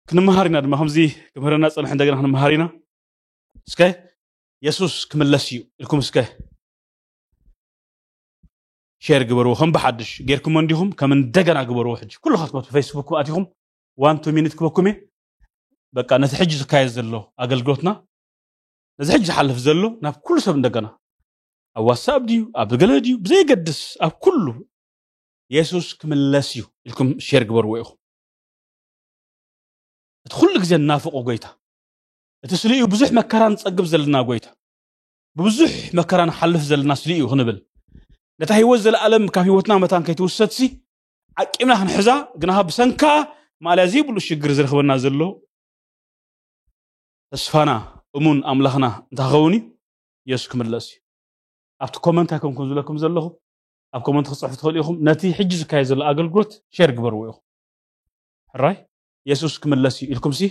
ክንመሃር ኢና ድማ ከምዚ ክምህረና ዝፀንሐ እንደገና ክንመሃር ኢና እስከ የሱስ ክምለስ እዩ ኢልኩም እስከ ሼር ግበርዎ ከም ብሓድሽ ጌርኩሞ እንዲኹም ከም እንደገና ግበርዎ ሕጂ ኩልኻትኩም ኣብቲ ፌስቡክ ኣቲኹም ዋን ቱ ሚኒት ክበኩም እየ በቃ ነቲ ሕጂ ዝካየድ ዘሎ ኣገልግሎትና ነዚ ሕጂ ዝሓልፍ ዘሎ ናብ ኩሉ ሰብ እንደገና ኣብ ዋትሳፕ ድዩ ኣብ ገለ ድዩ ብዘይገድስ ኣብ ኩሉ የሱስ ክምለስ እዩ ኢልኩም ሼር ግበርዎ ኢኹም እቲ ኩሉ ግዜ እናፍቆ ጎይታ እቲ ስልኡ ብዙሕ መከራ ንጸግብ ዘለና ጎይታ ብብዙሕ መከራ ንሓልፍ ዘለና ስልኡ ክንብል ነታ ህይወት ዘለኣለም ካብ ህይወትና መታን ከይትውሰድሲ ዓቂምና ክንሕዛ ግናኻ ብሰንካ ማእለያ ዘይብሉ ሽግር ዝረኽበና ዘሎ ተስፋና እሙን ኣምላኽና እንተኸውን እዩ የሱስ ክምለስ እዩ ኣብቲ ኮመንት ኣይኮንኩም ዝብለኩም ዘለኹ ኣብ ኮመንት ክፅሕፍ ትኽእሉ ኢኹም ነቲ ሕጂ ዝካየድ ዘሎ ኣገልግሎት ሸር ግበርዎ ኢኹም ሕራይ የሱስ ክምለስ እዩ ኢልኩምሲ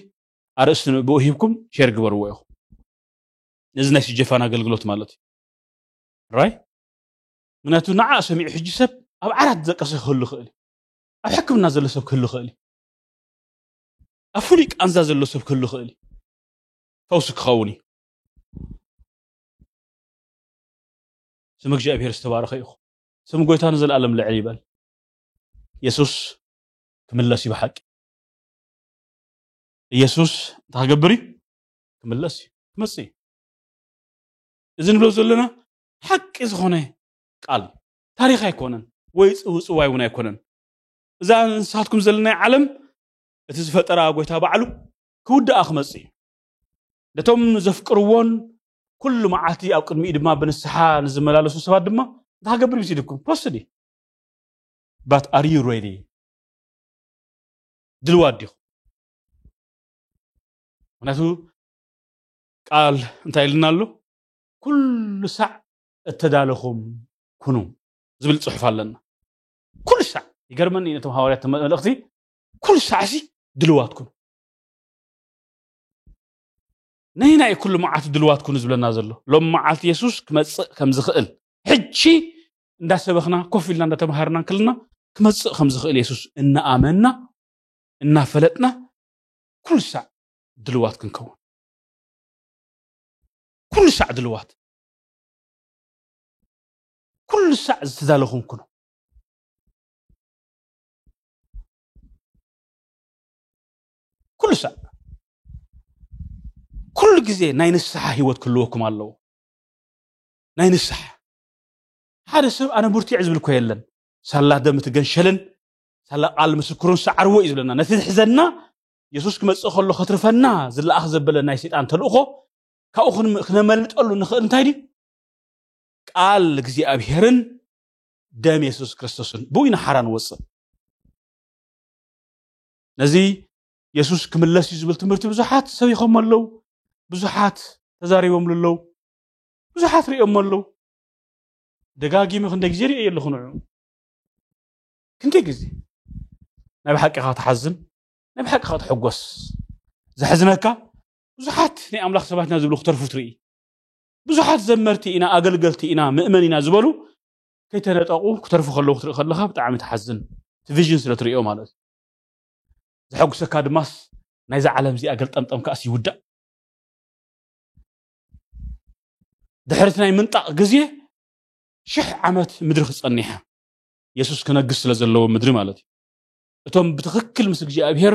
ኣርእስቲ ንእብኡ ሂብኩም ሼር ግበርዎ ኢኹም ነዚ ናይ ስጀፋን ኣገልግሎት ማለት እዩ ራይ ምክንያቱ ንዓ ሰሚዑ ሕጂ ሰብ ኣብ ዓራት ዘቀሰ ክህሉ ይኽእል እዩ ኣብ ሕክምና ዘሎ ሰብ ክህሉ ይኽእል እዩ ኣብ ፍሉይ ቃንዛ ዘሎ ሰብ ክህሉ ይኽእል እዩ ፈውሲ ክኸውን እዩ ስም እግዚኣብሔር ዝተባረኸ ይኹን ስም ጎይታ ንዘለኣለም ልዕል ይበል የሱስ ክምለስ እዩ ብሓቂ ኢየሱስ እንታይ ክገብር እዩ ክምለስ እዩ ክመፅእ እዩ እዚ ንብሎ ዘለና ሓቂ ዝኾነ ቃል ታሪክ ኣይኮነን ወይ ፅውፅዋይ እውን ኣይኮነን እዛ ንስኻትኩም ዘለናይ ዓለም እቲ ዝፈጠራ ጎይታ ባዕሉ ክውድኣ ክመፅእ እዩ ነቶም ዘፍቅርዎን ኩሉ መዓልቲ ኣብ ቅድሚኡ ድማ ብንስሓ ንዝመላለሱ ሰባት ድማ እንታይ ክገብር ይብሲድኩም ክወስድ እዩ ባት ኣር ዩ ሬዲ ድልዋት ዲኹም ምክንያቱ ቃል እንታይ ኢልና ኣሎ ኩሉ ሳዕ እተዳለኹም ኩኑ ዝብል ፅሑፍ ኣለና ኩሉ ሳዕ ይገርመኒ ነቶም ሃዋርያት መልእኽቲ ኩሉ ሳዕሲ ድልዋት ኩኑ ነይና እዩ ኩሉ መዓልቲ ድልዋት ኩኑ ዝብለና ዘሎ ሎም መዓልቲ የሱስ ክመፅእ ከም ዝኽእል ሕጂ እንዳሰበኽና ኮፍ ኢልና እንዳተምሃርና እንክልና ክመፅእ ከም ዝኽእል የሱስ እናኣመንና እናፈለጥና ኩሉ ሳዕ ድልዋት ክንከውን ኩሉ ሳዕ ድልዋት ኩሉ ሳዕ ዝተዳለኹም ኩኑ ኩሉ ሳዕ ኩሉ ግዜ ናይ ንስሓ ሂወት ክህልወኩም ኣለዎ ናይ ንስሓ ሓደ ሰብ ኣነ ብርቱዕ ዝብል እኮ የለን ሳላ ደም እቲ ገንሸልን ሳላ ቃል ምስክሩን ሰዓርዎ እዩ ዝብለና ነቲ ዝሕዘና የሱስ ክመጽእ ከሎ ከትርፈና ዝለኣኽ ዘበለ ናይ ሰይጣን ተልእኾ ካብኡ ክነመልጠሉ ንኽእል እንታይ ድዩ ቃል እግዚኣብሄርን ደም የሱስ ክርስቶስን ብኡ ኢና ሓራ ንወፅእ ነዚ የሱስ ክምለስ እዩ ዝብል ትምህርቲ ብዙሓት ሰቢኾም ኣለዉ ብዙሓት ተዛሪቦምሉ ኣለዉ ብዙሓት ሪኦሞ ኣለዉ ደጋጊመ ክንደይ ግዜ ሪኦ ኣለኹ ንዑ ክንደይ ግዜ ናይ ብሓቂ ካ ትሓዝን ናይ ብሓቂ ካ ትሕጎስ ዘሕዝነካ ብዙሓት ናይ ኣምላኽ ሰባት ኢና ዝብሉ ክተርፉ ትርኢ ብዙሓት ዘመርቲ ኢና ኣገልገልቲ ኢና ምእመን ኢና ዝበሉ ከይተነጠቑ ክተርፉ ከለዉ ክትርኢ ከለካ ብጣዕሚ ትሓዝን እቲ ቪዥን ስለ ትሪኦ ማለት እዩ ዘሐጉሰካ ድማስ ናይዛ ዓለም እዚኣ ገልጠምጠም ከኣስ ይውዳእ ድሕርቲ ናይ ምንጣቕ ግዜ ሽሕ ዓመት ምድሪ ክጸኒሓ የሱስ ክነግስ ስለ ዘለዎ ምድሪ ማለት እዩ እቶም ብትኽክል ምስ እግዚኣብሄር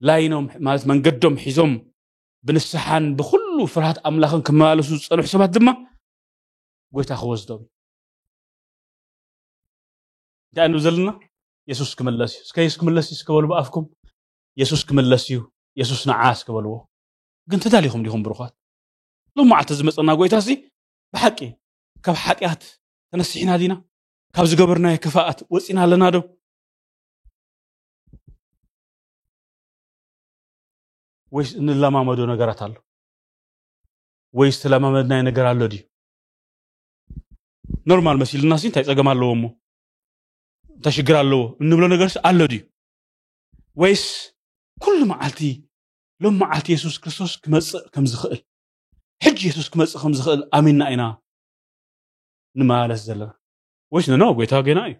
ላይኖም ማለት መንገዶም ሒዞም ብንስሓን ብኩሉ ፍርሃት ኣምላኽን ክመላለሱ ዝጸንሑ ሰባት ድማ ጎይታ ክወስዶም እዩ እንታይ ንብ ዘለና የሱስ ክምለስ እዩ እስከ የሱስ ክምለስ እዩ እስከበሉ ብኣፍኩም የሱስ ክምለስ እዩ የሱስ ንዓ እስከበልዎ ግን ተዳሊኹም ዲኹም ብሩኻት ሎም መዓልቲ ዝመፀና ጎይታ ሲ ብሓቂ ካብ ሓጢኣት ተነሲሕና ዲና ካብ ዝገበርናዮ ክፋኣት ወፂና ኣለና ዶ ወይስ እንለማመዶ ነገራት ኣሎ ወይስ ተለማመድናይ ነገር ኣሎ ድዩ ኖርማል መሲልና ሲ እንታይ ፀገም ኣለዎ እሞ እንታይ ሽግር ኣለዎ እንብሎ ነገርስ ኣሎ ድዩ ወይስ ኩሉ መዓልቲ ሎም መዓልቲ የሱስ ክርስቶስ ክመፅእ ከም ዝኽእል ሕጂ የሱስ ክመፅእ ከም ዝኽእል ኣሚንና ኢና ንመላለስ ዘለና ወይስ ነኖ ጎይታ ገና እዩ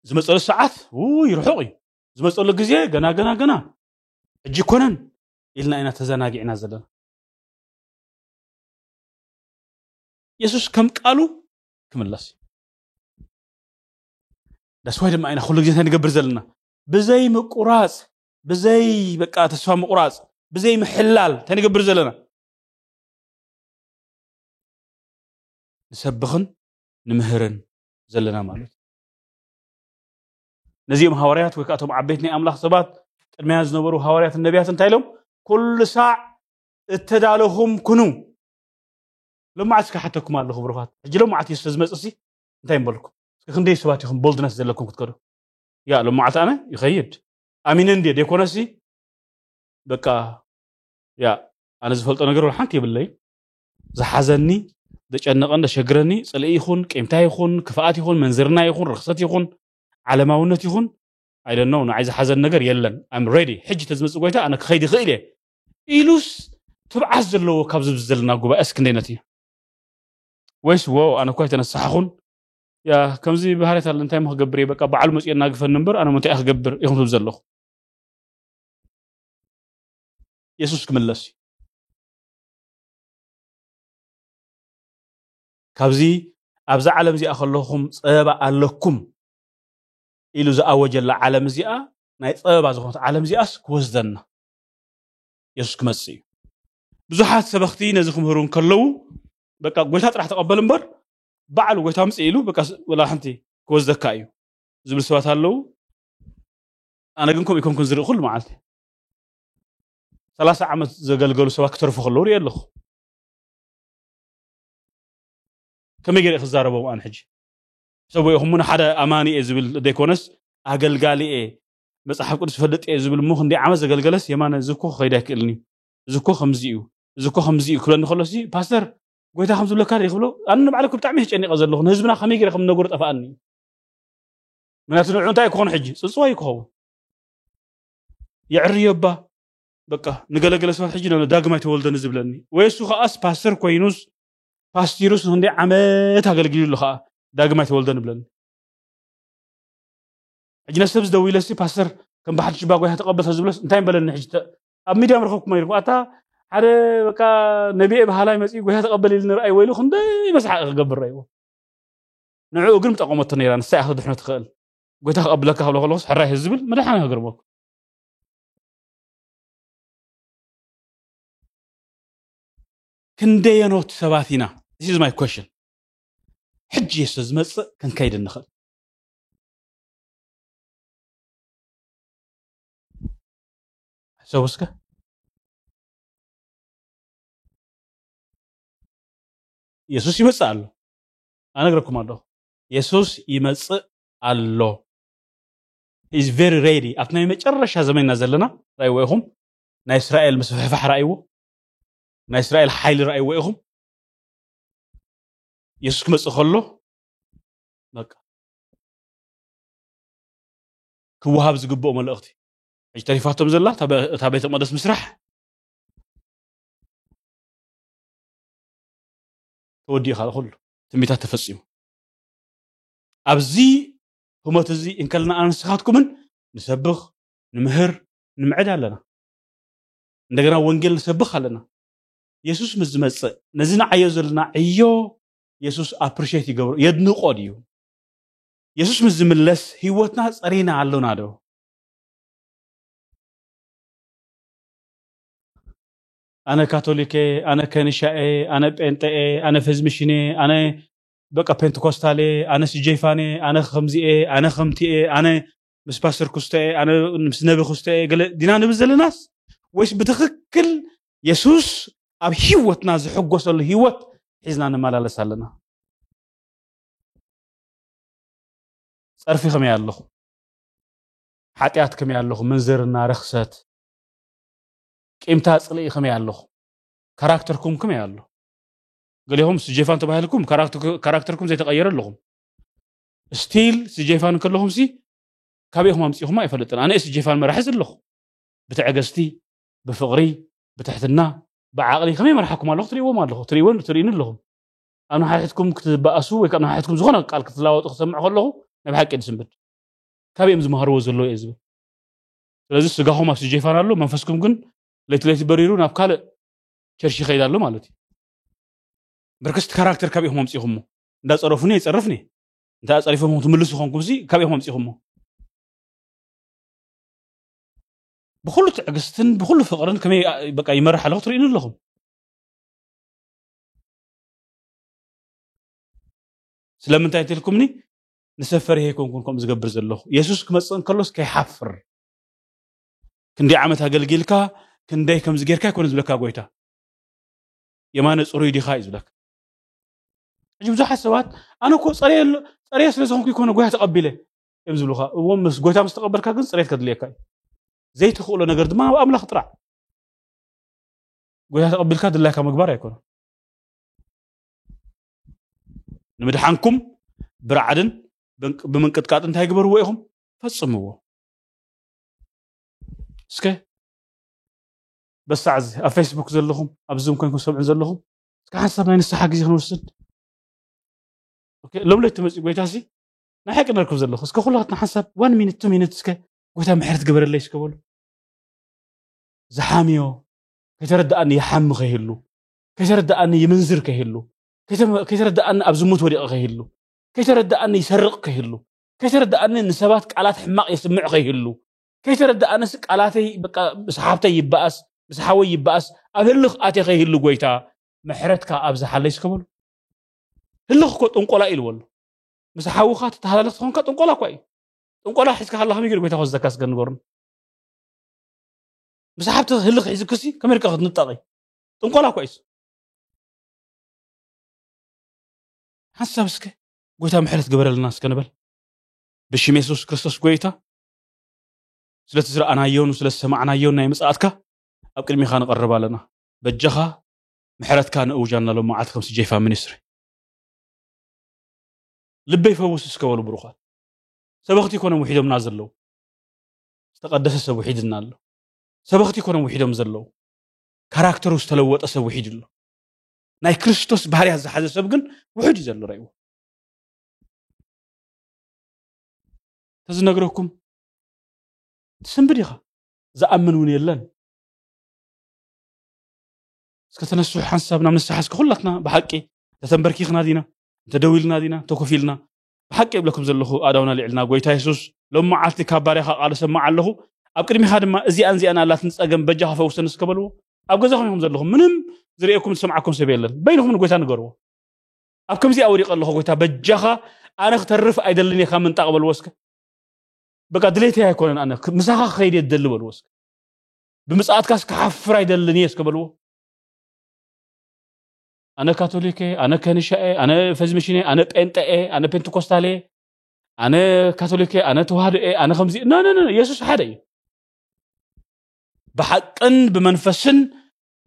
ዝመፀሉ ሰዓት ውይ ርሑቕ እዩ ዝመፀሉ ግዜ ገና ገና ገና ሕጂ ኮነን ኢልና ኢና ተዘናጊዕና ዘለና የሱስ ከም ቃሉ ክምለስ እዩ ዳስዋይ ድማ ኢና ኩሉ ግዜ እንታይ ንገብር ዘለና ብዘይ ምቁራፅ ብዘይ በቃ ተስፋ ምቑራፅ ብዘይ ምሕላል እንታይ ንገብር ዘለና ንሰብኽን ንምህርን ዘለና ማለት እዩ ነዚኦም ሃዋርያት ወይ ከዓ እቶም ዓበይት ናይ ኣምላኽ ሰባት ቅድሚያ ዝነበሩ ሃዋርያትን ነቢያት እንታይ ኢሎም ኩሉ ሳዕ እተዳለኹም ኩኑ ሎማዓት እስከ ሓተኩም ኣለኹ ብሩኻት ሕጂ ሎማዓት እዩ ስለዝመፅእ ሲ እንታይ ምበልኩም እስከ ክንደይ ሰባት ኢኹም ቦልድነስ ዘለኩም ክትከዱ ያ ሎማዓልቲ ኣነ ይኸይድ ኣሚነ እንድየ ደይኮነሲ በቃ ያ ኣነ ዝፈልጦ ነገር ወላ ሓንቲ የብለይ ዝሓዘኒ ዘጨነቐን ዘሸግረኒ ፅልኢ ይኹን ቂምታ ይኹን ክፍኣት ይኹን መንዝርና ይኹን ርክሰት ይኹን ዓለማውነት ይኹን ኣይደነው ንዓይ ዝሓዘኒ ነገር የለን ኣም ሬዲ ሕጂ ተዝመፅእ ጎይታ ኣነ ክኸይድ ይኽእል እየ ኢሉስ ትብዓት ዘለዎ ካብ ዝብዚ ዘለና ጉባኤ እስክንደይነት እዩ ወይስ ወ ኣነ እኳ ኣይተነሳሓኹን ያ ከምዚ ባህርያት ኣለ እንታይ ክገብር እየ በቃ በዓሉ መፅኦ እናግፈኒ እምበር ኣነ እንታይ ክገብር ኢኹም ትብል ዘለኹ የሱስ ክምለስ እዩ ካብዚ ኣብዛ ዓለም እዚኣ ከለኹም ፀበባ ኣለኩም ኢሉ ዝኣወጀላ ዓለም እዚኣ ናይ ፀበባ ዝኾነት ዓለም እዚኣስ ክወስደና የሱስ ክመፅእ እዩ ብዙሓት ሰበኽቲ ነዚ ክምህሩ እንከለዉ በቃ ጎይታ ጥራሕ ተቐበል እምበር ባዕሉ ጎይታ ምጽእ ኢሉ በቃ ወላ ሓንቲ ክወስደካ እዩ ዝብል ሰባት ኣለዉ ኣነ ግን ከምኡ ይኮንኩን ዝርኢ ኩሉ መዓልቲ ሰላሳ ዓመት ዘገልገሉ ሰባት ክተርፉ ከለዉ ሪኦ ኣለኹ ከመይ ገይረ ክዛረቦም ኣነ ሕጂ ሰብኡ ኢኹም ውን ሓደ ኣማኒ እየ ዝብል ዘይኮነስ ኣገልጋሊ እየ መፅሓፍ ቅዱስ ፈልጥ እየ ዝብል እሞ ክንደይ ዓመት ዘገልገለስ የማነ እዚ እኮ ክኸይድ ኣይክእልን እዩ እዚ እኮ ከምዚ እዩ እዚ እኮ ከምዚ እዩ ክብለኒ ከሎሲ ፓስተር ጎይታ ከም ዝብለካ ርኢ ክብሎ ኣነ ንባዕለ ብጣዕሚ ተጨኒቐ ዘለኹ ንህዝብና ከመይ ገይረ ከም ነገሩ ጠፋኣኒ ምክንያቱ ንዑ እንታይ ክኾኑ ሕጂ ፅፅዋ እዩ ክኸውን የዕርዮ እባ በቃ ንገለገለ ሰባት ሕጂ ዳግማይ ተወልደኒ ዝብለኒ ወይ እሱ ከዓስ ፓስተር ኮይኑስ ፓስቲሩስ ንክንደ ዓመት ኣገልግሉ ኣሎ ከዓ ዳግማይ ተወልደኒ ብለኒ ሕጂ ነሰብ ዝደውለሲ ፓስተር ከም ብሓድሽ ባ ጎይታ ተቐበል ዝብለስ እንታይ በለኒ ሕጂ ኣብ ሚድያ ምረኸብኩሞ ይልኩ ኣታ ሓደ በቃ ነቢኤ በሃላይ መፅኡ ጎይታ ተቐበል ኢሉ ንርኣይ ወይሉ ክንደይ መስሓቂ ክገብር ረእይዎ ንዕኡ ግን ምጠቐመቶ ነይራ ንሳ እያ ክትድሕኖ ትኽእል ጎይታ ክቐብለካ ክብሎ ከለኹስ ሕራይ ዝብል መድሓን ክገርመኩ ክንደየኖት ሰባት ኢና ዚስ ኢዝ ማይ ኮሽን ሕጂ እየ ስለ ዝመፅእ ክንከይድ ንኽእል ሕሰቡ እስከ ኢየሱስ ይመጽእ ኣሎ ኣነግረኩም ኣለኹ ኢየሱስ ይመጽእ ኣሎ ኢዝ ቨሪ ሬዲ ኣብቲ ናይ መጨረሻ ዘመንና ዘለና ራእይዎ ኢኹም ናይ እስራኤል ምስፍሕፋሕ ራእይዎ ናይ እስራኤል ሓይሊ ራእይዎ ኢኹም ኢየሱስ ክመጽእ ከሎ በቃ ክወሃብ ዝግብኦ መልእኽቲ ሕጂ ተሪፋቶም ዘላ እታ ቤተ መቅደስ ምስራሕ ተወዲኡ ካልእ ኩሉ ትንቢታት ተፈጺሙ ኣብዚ ህሞት እዚ እንከለና ኣነ ንስኻትኩምን ንሰብኽ ንምህር ንምዕድ ኣለና እንደገና ወንጌል ንሰብኽ ኣለና የሱስ ምስ ዝመፅእ ነዚ ንዓዮ ዘለና ዕዮ የሱስ ኣፕሪሽት ይገብሮ የድንቆ ድዩ የሱስ ምስ ዝምለስ ህይወትና ፀሪና ኣሎና ዶ ኣነ ካቶሊክ እየ ኣነ ከንሻ እየ ኣነ ጴንጠ እየ ኣነ ፈዝሚሽን እየ ኣነ በቃ ፔንትኮስታል እየ ኣነ ስጀይፋን እየ ኣነ ከምዚ እየ ኣነ ከምቲ እየ ኣነ ምስ ፓስተር ክስቶ እየ ኣነ ምስ ነቢ ክስቶ እየ ገለ ዲና ንብል ዘለናስ ወይስ ብትኽክል የሱስ ኣብ ህይወትና ዝሕጎሰሉ ህይወት ሒዝና ንመላለስ ኣለና ጸርፊ ከመይ ኣለኹ ሓጢኣት ከመይ ኣለኹ ምንዝርና ርኽሰት ቂምታ ጽልኢ ከመይ ኣለኹ ካራክተርኩም ከመይ ኣሎ ገሌኹም ስጀፋን ተባሂልኩም ካራክተርኩም ዘይተቐየረ ኣለኹም ስቲል ስጀፋን ከለኹም ሲ ካበይ ኢኹም ኣምፂኹም ኣይፈልጥን ኣነ ስጀፋን መራሒ ዘለኹ ብትዕግስቲ ብፍቕሪ ብትሕትና ብዓቕሊ ከመይ መርሓኩም ኣለኹ ትሪእዎም ኣለኹ ትሪእዎን ትርእኒ ኣለኹም ኣብ ንሓሕትኩም ክትበኣሱ ወይ ካብ ንሓሕትኩም ዝኾነ ቃል ክትላወጡ ክሰምዕ ከለኹ ናይ ብሓቂ ድስምብድ ካበይ እዮም ዝመሃርዎ ዘለዎ እየ ዝብል ስለዚ ስጋኹም ኣብ ስጀፋን ኣሎ መንፈስኩም ግን ለይቲ ለይቲ በሪሩ ናብ ካልእ ቸርሽ ይኸይድ ኣሎ ማለት እዩ ብርክስቲ ካራክተር ካብ ኢኹም ኣምፂኹሞ እንዳፀረፉኒ ይፀርፍኒ እንታይ ኣፀሪፎም ትምልሱ ኮንኩም ሲ ካብ ኢኹም ኣምፂኹሞ ብኩሉ ትዕግስትን ብኩሉ ፍቅርን ከመይ በቃ ይመርሕ ኣለኹ ትርእኒ ኣለኹም ስለምንታይ ትልኩምኒ ንሰብ ፈሪሀ ኣይኮንኩን ከምኡ ዝገብር ዘለኹ የሱስ ክመፅእ እንከሎስ ከይሓፍር ክንደይ ዓመት ኣገልጊልካ ክንደይ ከምዚ ጌርካ ኣይኮነ ዝብለካ ጎይታ የማነ ፅሩይ ዲኻ እዩ ዝብለካ ሕጂ ብዙሓት ሰባት ኣነ እኮ ፀረየ ፀረየ ስለ ዝኾንኩ ይኮነ ጎይታ ተቐቢለ እዮም ዝብሉኻ እዎ ምስ ጎይታ ምስ ተቐበልካ ግን ፅሬት ከድልየካ እዩ ዘይትኽእሎ ነገር ድማ ኣብ ኣምላኽ ጥራዕ ጎይታ ተቐቢልካ ድላይካ ምግባር ኣይኮነን ንምድሓንኩም ብራዕድን ብምንቅጥቃጥ እንታይ ግበርዎ ኢኹም ፈፅምዎ እስከ በሳዕ እዚ ኣብ ፌስቡክ ዘለኹም ኣብ ዝም ኮንኩም ሰምዑን ዘለኹም እስከ ሓንሳብ ናይ ንስሓ ግዜ ክንወስድ ሎም ለይቲ መፅኡ ጎይታ ሲ ናይ ሓቂ ነርክብ ዘለኹ እስከ ኩላትና ሓንሳብ ዋን ሚኒት ቱ ሚኒት እስከ ጎይታ ምሕረት ግበረለይ እስከ በሉ ዝሓምዮ ከይተረድኣኒ ይሓሚ ከይህሉ ከይተረደኣኒ ይምንዝር ከይህሉ፣ ከይተረደኣኒ ኣብ ዝሙት ወዲቐ ከይህሉ፣ ከይተረደኣኒ ይሰርቕ ከይህሉ፣ ከይተረደኣኒ ንሰባት ቃላት ሕማቕ የስምዕ ከይህሉ፣ ከይተረደኣንስ ቃላተይ በቃ ምስ ሓብተይ ይበኣስ ምስ ሓወይ ይበኣስ ኣብ ህልኽ ኣትየ ከይህሉ ጎይታ ምሕረትካ ኣብዝሓለይ እስከ በሉ። ህልኽ እኮ ጥንቆላ እዩ ኢልዎ ኣሎ። ምስ ሓውኻ ትተሃላለኽ ተኾንካ ጥንቆላ እኳ እዩ። ጥንቆላ ሒዝካ ከለኻ ከመይ ገይሩ ጎይታ ክወስደካ እስከ ንገሩኒ። ምስ ሓብትኺ ህልኽ ሒዝክሲ ከመይ ኢልካ ክትንጠቒ? ጥንቆላ እኮ እዩስ ሓሳብ እስከ ጎይታ ምሕረት ግበረልና እስከ ንበል ብሽም የሱስ ክርስቶስ ጎይታ ስለቲ ዝረኣናዮን ስለ ዝሰማዕናዮን ናይ ምጽኣትካ ኣብ ቅድሚኻ ንቐርብ ኣለና በጃኻ ምሕረትካ ንእውጃ እናሎ መዓልቲ ከም ስጀይፋ ሚኒስትሪ ልበይ ፈውስ እስከ በሉ ብሩኻት ሰበኽቲ ኮኖም ውሒዶምና ዘለዉ ዝተቐደሰ ሰብ ውሒድና ኣሎ ሰበኽቲ ኮኖም ውሒዶም ዘለዉ ካራክተሩ ዝተለወጠ ሰብ ውሒድ ኣሎ ናይ ክርስቶስ ባህርያት ዝሓዘ ሰብ ግን ውሑድ እዩ ዘሎ ረእዎ ተዝነግረኩም ትስንብድ ኢኻ ዝኣምን እውን የለን እስከ ተነሱ ሓንሳብ ናብ ንስሓ እስከ ኩላትና ብሓቂ ተተንበርኪኽና ዲና እንተደው ኢልና ዲና እንተኮፍ ኢልና ብሓቂ እብለኩም ዘለኹ ኣእዳውና ኣልዒልና ጐይታ የሱስ ሎሚ መዓልቲ ካብ ባርያኻ ቃል እሰምዕ ኣለኹ ኣብ ቅድሚኻ ድማ እዚኣን እዚኣን ኣላትን ጸገም በጃኻ ፈውሰኒ እስከ በልዎ ኣብ ገዛኹም ኢኹም ዘለኹም ምንም ዝርእየኩም ዝሰምዓኩም ሰብ የለን በይንኹም ንጐይታ ንገርዎ ኣብ ከምዚኣ ወዲቀ ኣለኹ ጐይታ በጃኻ ኣነ ክተርፍ ኣይደልን እየ ካብ ምንጣቕ በልዎ እስከ በቃ ድሌተይ ኣይኮነን ኣነ ምሳኻ ክኸይድ እየ ዝደሊ በልዎ እስከ ብምጽኣትካስ ክሓፍር ኣይደልን እየ እስከ በልዎ ኣነ ካቶሊክ እየ ኣነ ከንሻ እየ ኣነ ፈዝሚሽን እየ ኣነ ጴንጠ እየ ኣነ ፔንቴኮስታል እየ ኣነ ካቶሊክ እየ ኣነ ተዋህዶ እየ ኣነ ከምዚ ነነነ የሱስ ሓደ እዩ ብሓቅን ብመንፈስን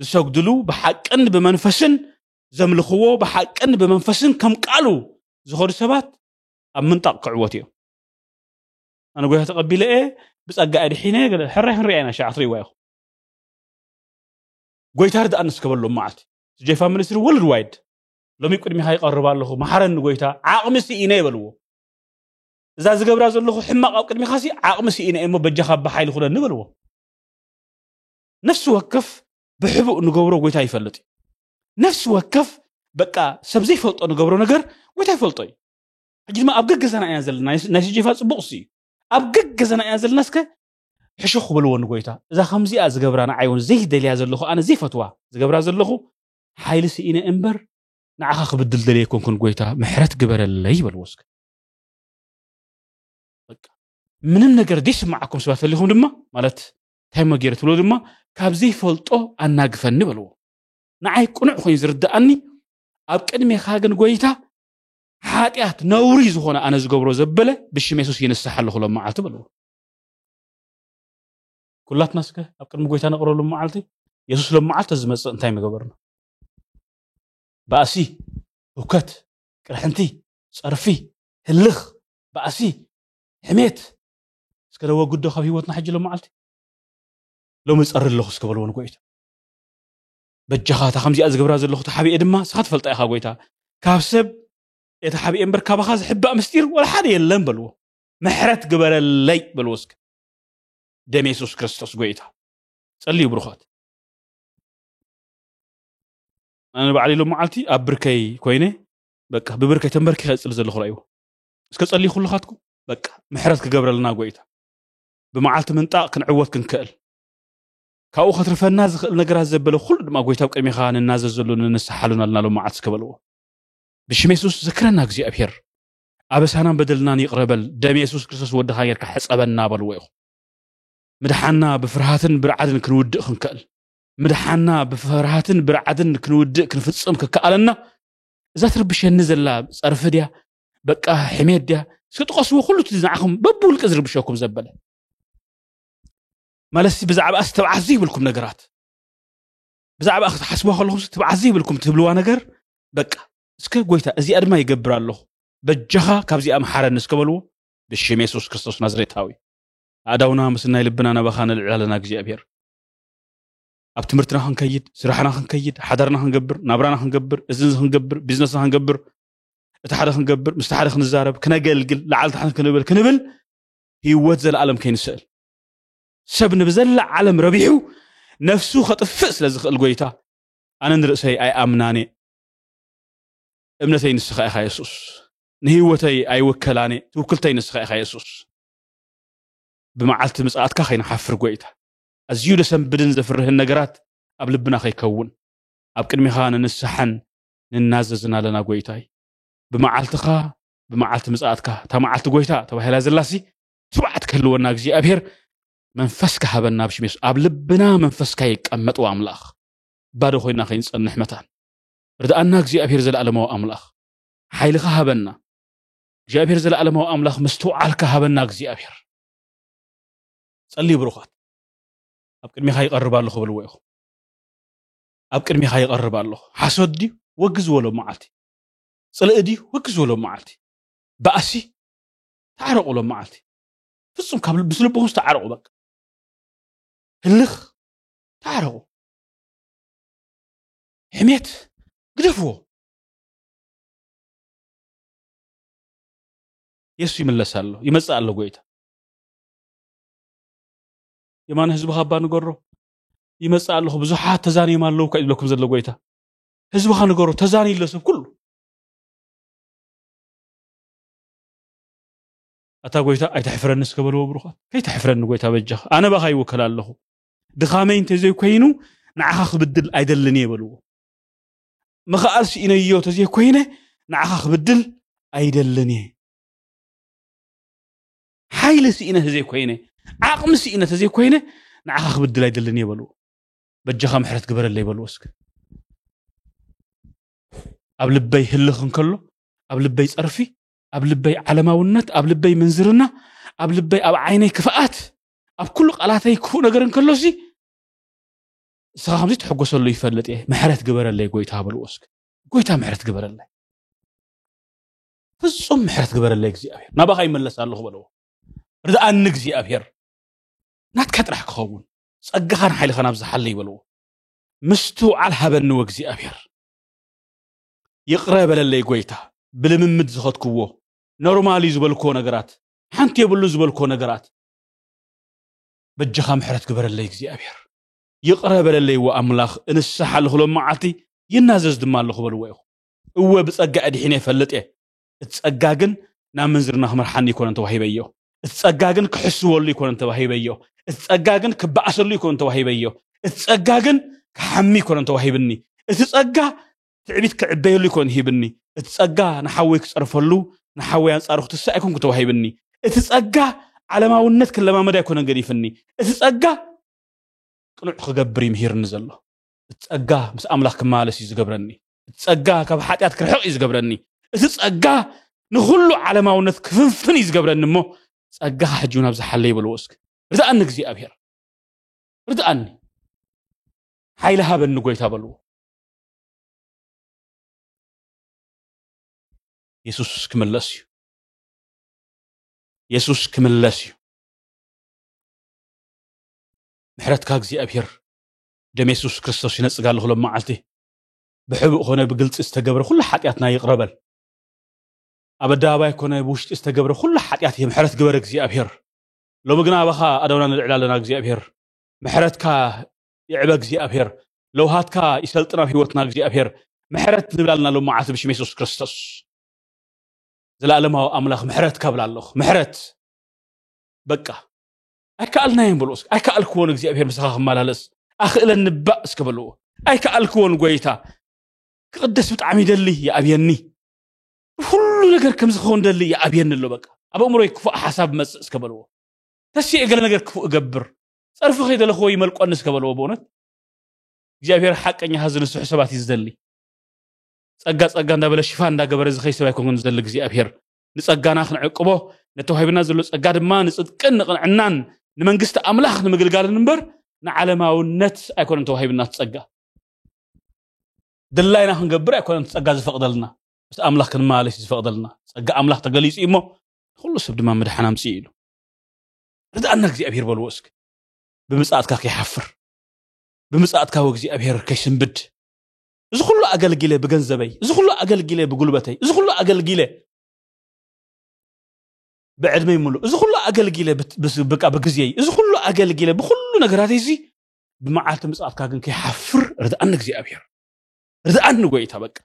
ዝሰግድሉ ብሓቅን ብመንፈስን ዘምልኽዎ ብሓቅን ብመንፈስን ከም ቃሉ ዝኾኑ ሰባት ኣብ ምንጣቕ ክዕወት እዮም ኣነ ጎይታ ተቐቢለ እየ ብፀጋ እየ ድሒነ ሕራይ ክንሪኣ ኢና ሸዓ ክትሪእዋ ኢኹም ጎይታ ርድኣኒ እስከበሎም መዓልቲ ጀፋ ሚኒስትሪ ወርልድ ዋይድ ሎሚ ቅድሚኻ ይቐርብ ኣለኹ መሓረኒ ጎይታ ዓቕሚ ስኢነ ይበልዎ እዛ ዝገብራ ዘለኹ ሕማቕ ኣብ ቅድሚኻ ሲ ዓቕሚ ስኢነ እሞ በጃኻ ብሓይሊ ኩነኒ በልዎ ነፍሲ ወከፍ ብሕቡእ ንገብሮ ጎይታ ይፈልጥ እዩ ነፍሲ ወከፍ በቃ ሰብ ዘይፈልጦ ንገብሮ ነገር ጎይታ ይፈልጦ እዩ ሕጂ ድማ ኣብ ገገዛና ኢና ዘለና ናይ ስጀፋ ፅቡቕ ሲ እዩ ኣብ ገገዛና ኢና ዘለና እስከ ሕሹኽ በልዎ ንጎይታ እዛ ከምዚኣ ዝገብራ ንዓይ እውን ዘይደልያ ዘለኹ ኣነ ዘይፈትዋ ዝገብራ ዘለኹ ሓይሊ ስኢነ እምበር ንዓኻ ክብድል ደልየ ኣይኮንኩን ጎይታ ምሕረት ግበረለይ በልዎ እስከ ምንም ነገር ዘይስምዓኩም ሰባት ተሊኹም ድማ ማለት እንታይ እሞ ገይረ ትብሎ ድማ ካብ ዘይፈልጦ ኣናግፈኒ በልዎ ንዓይ ቅኑዕ ኮይኑ ዝርድኣኒ ኣብ ቅድሜኻ ግን ጎይታ ሓጢኣት ነውሪ ዝኾነ ኣነ ዝገብሮ ዘበለ ብሽም የሱስ ይንስሓ ኣለኹ ሎም መዓልቲ በልዎ ኩላትና እስከ ኣብ ቅድሚ ጎይታ ነቕረሉ መዓልቲ የሱስ ሎም መዓልቲ ዝመፅእ እንታይ ምገበርና ባእሲ ህውከት ቅርሕንቲ ፀርፊ ህልኽ ባእሲ ሕሜት እስከ ነወግዶ ካብ ህይወትና ሕጂ ሎም መዓልቲ ሎሚ ፀሪ ኣለኹ እስከ በልዎ ንጎይታ በጃኻ እታ ከምዚኣ ዝገብራ ዘለኹ ተሓቢኤ ድማ ስኻ ትፈልጣ ኢኻ ጎይታ ካብ ሰብ የተሓቢኤ እምበር ካባኻ ዝሕባእ ምስጢር ወላ ሓደ የለን በልዎ ምሕረት ግበረለይ በሉ እስከ ደም የሱስ ክርስቶስ ጎይታ ጸልዩ ብርኾት ኣነ ባዕለይ ሎም መዓልቲ ኣብ ብርከይ ኮይነ በቃ ብብርከይ ተንበርኪ ከፅሊ ዘለኹ ረእይዎ እስከ ጸልዩ ኩልኻትኩም በቃ ምሕረት ክገብረልና ጎይታ ብመዓልቲ ምንጣቕ ክንዕወት ክንክእል ካብኡ ከትርፈና ዝኽእል ነገራት ዘበለ ኩሉ ድማ ጎይታ ኣብ ቅድሚኻ ንናዘዘሉ ንንስሓሉን ኣለና ሎም መዓልቲ እስከ በልዎ ብሽም የሱስ ዘክረና እግዚኣብሄር ኣበሳናን በደልናን ይቕረ በል፣ ደም የሱስ ክርስቶስ ወድኻ ጌርካ ሕጸበና በልዎ ኢኹም። ምድሓንና ብፍርሃትን ብርዓድን ክንውድእ ክንክእል ምድሓንና ብፍርሃትን ብርዓድን ክንውድእ ክንፍጽም ክከኣለና እዛ ትርብሸኒ ዘላ ጸርፊ ድያ በቃ ሕሜት ድያ እስኪ ጥቐስዎ ኩሉ እቲ ንዓኹም በብውልቂ ዝርብሸኩም ዘበለ ማለትሲ ብዛዕባ እስ ተብዓት ዘይብልኩም ነገራት ብዛዕባ ክትሓስብዋ ከለኹም ተብዓት ዘይብልኩም ትብልዋ ነገር በቃ እስከ ጎይታ እዚኣ ድማ ይገብር ኣለኹ በጃኻ ካብዚኣ መሓረኒ እስከ በልዎ ብሽም የሱስ ክርስቶስ ናዝሬታዊ ኣእዳውና ምስ ናይ ልብና ናባኻ ነልዕል ኣለና እግዚኣብሔር ኣብ ትምህርትና ክንከይድ ስራሕና ክንከይድ ሓዳርና ክንገብር ናብራና ክንገብር እዝንዚ ክንገብር ቢዝነስና ክንገብር እቲ ሓደ ክንገብር ምስቲ ሓደ ክንዛረብ ክነገልግል ላዓል ታሕቲ ክንብል ክንብል ህይወት ዘለኣለም ከይንስእል ሰብ ንብዘላ ዓለም ረቢሑ ነፍሱ ከጥፍእ ስለ ዝኽእል ጎይታ ኣነ ንርእሰይ ኣይኣምናን እየ እምነተይ ንስኻ ኢኻ የሱስ ንህይወተይ ኣይውከላኔ ትውክልተይ ንስኻ ኢኻ የሱስ ብመዓልቲ ምጽኣትካ ከይንሓፍር ጎይታ ኣዝዩ ደሰንብድን ዘፍርህን ነገራት ኣብ ልብና ከይከውን ኣብ ቅድሚኻ ንንስሓን ንናዘዝን ኣለና ጎይታይ ብመዓልትኻ ብመዓልቲ ምጽኣትካ እታ መዓልቲ ጎይታ ተባሂላ ዘላሲ ትብዓት ክህልወና እግዚኣብሄር መንፈስካ ሃበና ኣብ ሽሜስ ኣብ ልብና መንፈስካ ይቀመጥ ኣምላኽ ባዶ ኮይና ከይንጸንሕ መታን ርድኣና እግዚኣብሔር ዘለኣለማዊ ኣምላኽ ሓይልኻ ሃበና እግዚኣብሔር ዘለኣለማዊ ኣምላኽ ምስትውዓልካ ሃበና እግዚኣብሔር ጸልዩ ብሩኻት ኣብ ቅድሚኻ ይቐርብ ኣለኹ ብልዎ ኢኹ ኣብ ቅድሚኻ ይቐርብ ኣለኹ ሓሶት ድዩ ወግ ዝበሎ መዓልቲ ጽልኢ ድዩ ወግ ዝበሎ መዓልቲ ባእሲ ተዓረቑ ሎም መዓልቲ ፍጹም ካብ ምስ ልብኹም ዝተዓረቑ በቃ ህልኽ ተዓረቑ ሕሜት ግደፍዎ የሱ ይምለስ ኣሎ ይመፅእ ኣሎ ጎይታ የማነ ህዝቢ ካባ ንገሮ ይመፅእ ኣለኹ ብዙሓት ተዛንዮም ኣለዉ ካ ይብለኩም ዘሎ ጎይታ ህዝብኻ ንገሮ ተዛንዩ ኣሎ ሰብ ኩሉ ኣታ ጎይታ ኣይተሕፍረኒ እስከ በልዎ ብሩኻት ከይተሕፍረኒ ጎይታ በጃኻ ኣነ ባኻ ይውከል ኣለኹ ድኻመይ እንተዘይኮይኑ ንዓኻ ክብድል ኣይደልን እየ በልዎ ምኽኣል ስኢነዮ እንተዘይኮይነ ንዓኻ ክብድል ኣይደልን እየ ሓይሊ ስኢነ ተዘይኮይነ ዓቕሚ ስኢነ ተዘይኮይነ ንዓኻ ክብድል ኣይደልን እየ በልዎ በጃኻ ምሕረት ግበረለይ በልዎ እስከ ኣብ ልበይ ህልኽ እንከሎ ኣብ ልበይ ፀርፊ ኣብ ልበይ ዓለማውነት ኣብ ልበይ ምንዝርና ኣብ ልበይ ኣብ ዓይነይ ክፍኣት ኣብ ኩሉ ቃላተይ ክፉእ ነገር እንከሎሲ ንስኻ ከምዚ ትሕጎሰሉ ይፈልጥ እየ ምሕረት ግበረለይ ጎይታ በልዎ እስኪ ጎይታ ምሕረት ግበረለይ ፍጹም ምሕረት ግበረለይ እግዚኣብሔር ናባኻ ይመለስ ኣለኹ በለዎ ርድኣኒ እግዚኣብሔር ናትካ ጥራሕ ክኸውን ጸጋኻን ሓይልኻን ኣብዝሓለይ በልዎ ምስትውዓል ሃበኒ ወእግዚኣብሔር ይቕረ በለለይ ጎይታ ብልምምድ ዝኸትክዎ ኖርማል እዩ ዝበልክዎ ነገራት ሓንቲ የብሉን ዝበልክዎ ነገራት በጃኻ ምሕረት ግበረለይ እግዚኣብሔር ይቕረ በለለይ እወ ኣምላኽ እንስሓ ኣለኹ ሎም መዓልቲ ይናዘዝ ድማ ኣለኹ በልዎ ኢኹም እወ ብጸጋ እድሒነ እፈልጥ እየ እቲ ጸጋ ግን ናብ ምንዝርና ክመርሓኒ ይኮነን ተዋሂበዮ እቲ ጸጋ ግን ክሕስወሉ ይኮነን ተዋሂበዮ እቲ ጸጋ ግን ክበኣሰሉ ይኮነን ተዋሂበዮ እቲ ጸጋ ግን ክሓሚ ይኮነን ተዋሂብኒ እቲ ጸጋ ትዕቢት ክዕበየሉ ኣይኮነን ሂብኒ፣ እቲ ጸጋ ንሓወይ ክጸርፈሉ፣ ንሓወይ ኣንጻሩ ክትስእ ኣይኮንኩን ተዋሂብኒ። እቲ ጸጋ ዓለማውነት ክለማመድ ኣይኮነን ገዲፍኒ፣ እቲ ጸጋ ቅኑዕ ክገብር እዩ ምሂርኒ ዘሎ። እቲ ጸጋ ምስ ኣምላኽ ክመላለስ እዩ ዝገብረኒ፣ እቲ ጸጋ ካብ ሓጢኣት ክርሕቕ እዩ ዝገብረኒ፣ እቲ ጸጋ ንኹሉ ዓለማውነት ክፍንፍን እዩ ዝገብረኒ እሞ ጸጋኻ ሕጂ እውን ኣብዚ ሓለይ በልዎ እስከ። ርድኣኒ እግዚኣብሄር ርድኣኒ፣ ሓይሊ ሃበኒ ጎይታ በልዎ። የሱስ ክምለስ እዩ የሱስ ክምለስ እዩ ምሕረትካ እግዚኣብሄር ደም የሱስ ክርስቶስ ይነፅጋ ኣለኹ ሎም መዓልቲ ብሕቡእ ኮነ ብግልፂ ዝተገብረ ኩሉ ሓጢኣትና ይቕረበል ኣብ ኣደባባይ ኮነ ብውሽጢ ዝተገብረ ኩሉ ሓጢኣት እየ ምሕረት ግበር እግዚኣብሄር ሎሚ ግና ኣባኻ ኣደውና ንልዕል ኣለና እግዚኣብሄር ምሕረትካ ይዕበ እግዚኣብሔር ለውሃትካ ይሰልጥን ኣብ ህይወትና እግዚኣብሔር ምሕረት ንብላልና ሎም መዓልቲ ብሽም የሱስ ክርስቶስ ዘለኣለማዊ ኣምላኽ ምሕረት ካብላ ኣለኹ ምሕረት በቃ ኣይከኣልናዮም በልዎ እስኪ ኣይከኣልክዎን እግዚኣብሔር ምሳኻ ክመላለስ ኣኽእለን ንባእ እስኪ በልዎ ኣይከኣልክዎን ጎይታ ክቕደስ ብጣዕሚ ይደሊ ይኣብየኒ ሁሉ ነገር ከም ዝኸውን ደሊ ይኣብየኒ ኣሎ በቃ ኣብ ኣእምሮይ ክፉእ ሓሳብ መፅእ እስከ በልዎ ተስየ ገለ ነገር ክፉእ እገብር ጸርፊ ከይደለኽዎ ይመልቆኒ እስከ በለዎ ብእውነት እግዚኣብሔር ሓቀኛ ሃዚ ንስሑ ሰባት እዩ ዝደሊ ጸጋ ጸጋ እንዳበለ ሽፋን እንዳገበረ ዝኸይ ሰብ ኣይኮንኩን ዝደሊ እግዚኣብሔር ንጸጋና ክንዕቅቦ ነተዋሂብና ዘሎ ጸጋ ድማ ንጽድቅን ንቕንዕናን ንመንግስቲ ኣምላኽ ንምግልጋልን እምበር ንዓለማውነት ኣይኮነን ተዋሂብና ትጸጋ ድላይና ክንገብር ኣይኮነን ጸጋ ዝፈቕደልና ምስ ኣምላኽ ክንመላለስ ዝፈቕደልና ጸጋ ኣምላኽ ተገሊጹ እሞ ንኹሉ ሰብ ድማ ምድሓን ኣምጽእ ኢሉ ርድኣና እግዚኣብሔር በልዎ እስኪ ብምፅኣትካ ከይሓፍር ብምፅኣትካ ወእግዚኣብሔር ከይስንብድ እዚ ኩሉ ኣገልጊለ ብገንዘበይ እዚ ኩሉ ኣገልጊለ ብጉልበተይ እዚ ኩሉ ኣገልጊለ ብዕድመይ ምሉእ እዚ ኩሉ ኣገልጊለ ብቃ ብግዜይ እዚ ኩሉ ኣገልጊለ ብኩሉ ነገራተይ እዚ ብመዓልቲ ምፅኣትካ ግን ከይሓፍር ርድኣኒ እግዚኣብሔር ርድኣኒ ጎይታ በቃ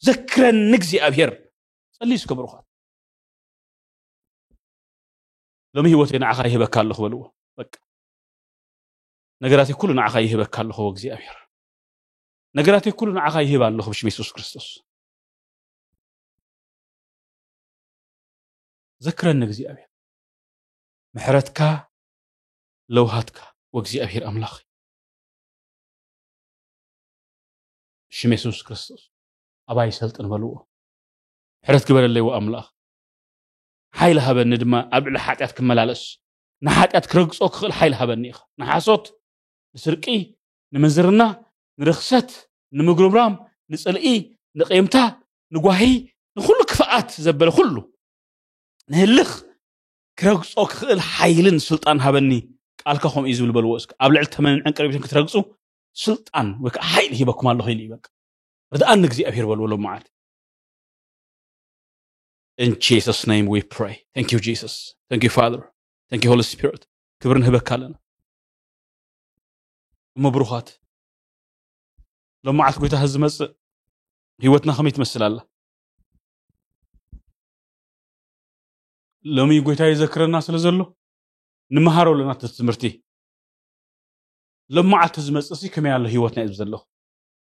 ዘክረኒ እግዚኣብሔር ጸልዩ እስከ ብሩኻት ሎሚ ህይወተይ ንዓኻ ይህበካ ኣለኹ በልዎ በቃ ነገራተይ ኩሉ ንዓኻ ይህበካ ኣለኹ እግዚኣብሔር ነገራተይ ኩሉ ንዓኻ ይህብ ኣለኹ ብሽም የሱስ ክርስቶስ ዘክረኒ እግዚኣብሔር ምሕረትካ ለውሃትካ ወእግዚኣብሔር ኣምላኽ ብሽም የሱስ ክርስቶስ ኣባይ ሰልጥን በልዎ ምሕረት ግበረለይ ወኣምላኽ ሓይሊ ሃበኒ ድማ ኣብ ልዕሊ ሓጢኣት ክመላለስ፣ ንሓጢኣት ክረግጾ ክኽእል ሓይሊ ሃበኒ ኢኻ። ንሓሶት፣ ንስርቂ፣ ንምንዝርና፣ ንርኽሰት፣ ንምጉርምራም፣ ንጽልኢ፣ ንቂምታ፣ ንጓሂ፣ ንኹሉ ክፍኣት ዘበለ ኩሉ፣ ንህልኽ፣ ክረግጾ ክኽእል ሓይልን ስልጣን ሃበኒ፣ ቃልካ ከምኡ እዩ ዝብል በልዎ እስከ። ኣብ ልዕሊ ተመንን ዕንቅርቢትን ክትረግጹ ስልጣን ወይ ከዓ ሓይሊ ሂበኩም ኣለኹ ኢሉ እዩ በቃ። ርድኣኒ እግዚኣብሔር በልዎ ሎሚ መዓልቲ። ኢን ጂሰስ ኔም ዊ ፕራይ ታንክ ዩ ጂሰስ ታንክ ዩ ፋዘር ታንክ ዩ ሆሊ ስፒሪት ክብሪ ንህበካ ኣለና እሞ ብሩኻት ሎም መዓልቲ ጎይታ ህዝ ዝመፅእ ህይወትና ከመይ ትመስል ኣላ ሎሚ ጎይታ የዘክረና ስለ ዘሎ ንምሃሮ ኣለና እቲ ትምህርቲ ሎም መዓልቲ ዝመፅእ ሲ ከመይ ኣሎ ህይወትና እዩ ዘለኹ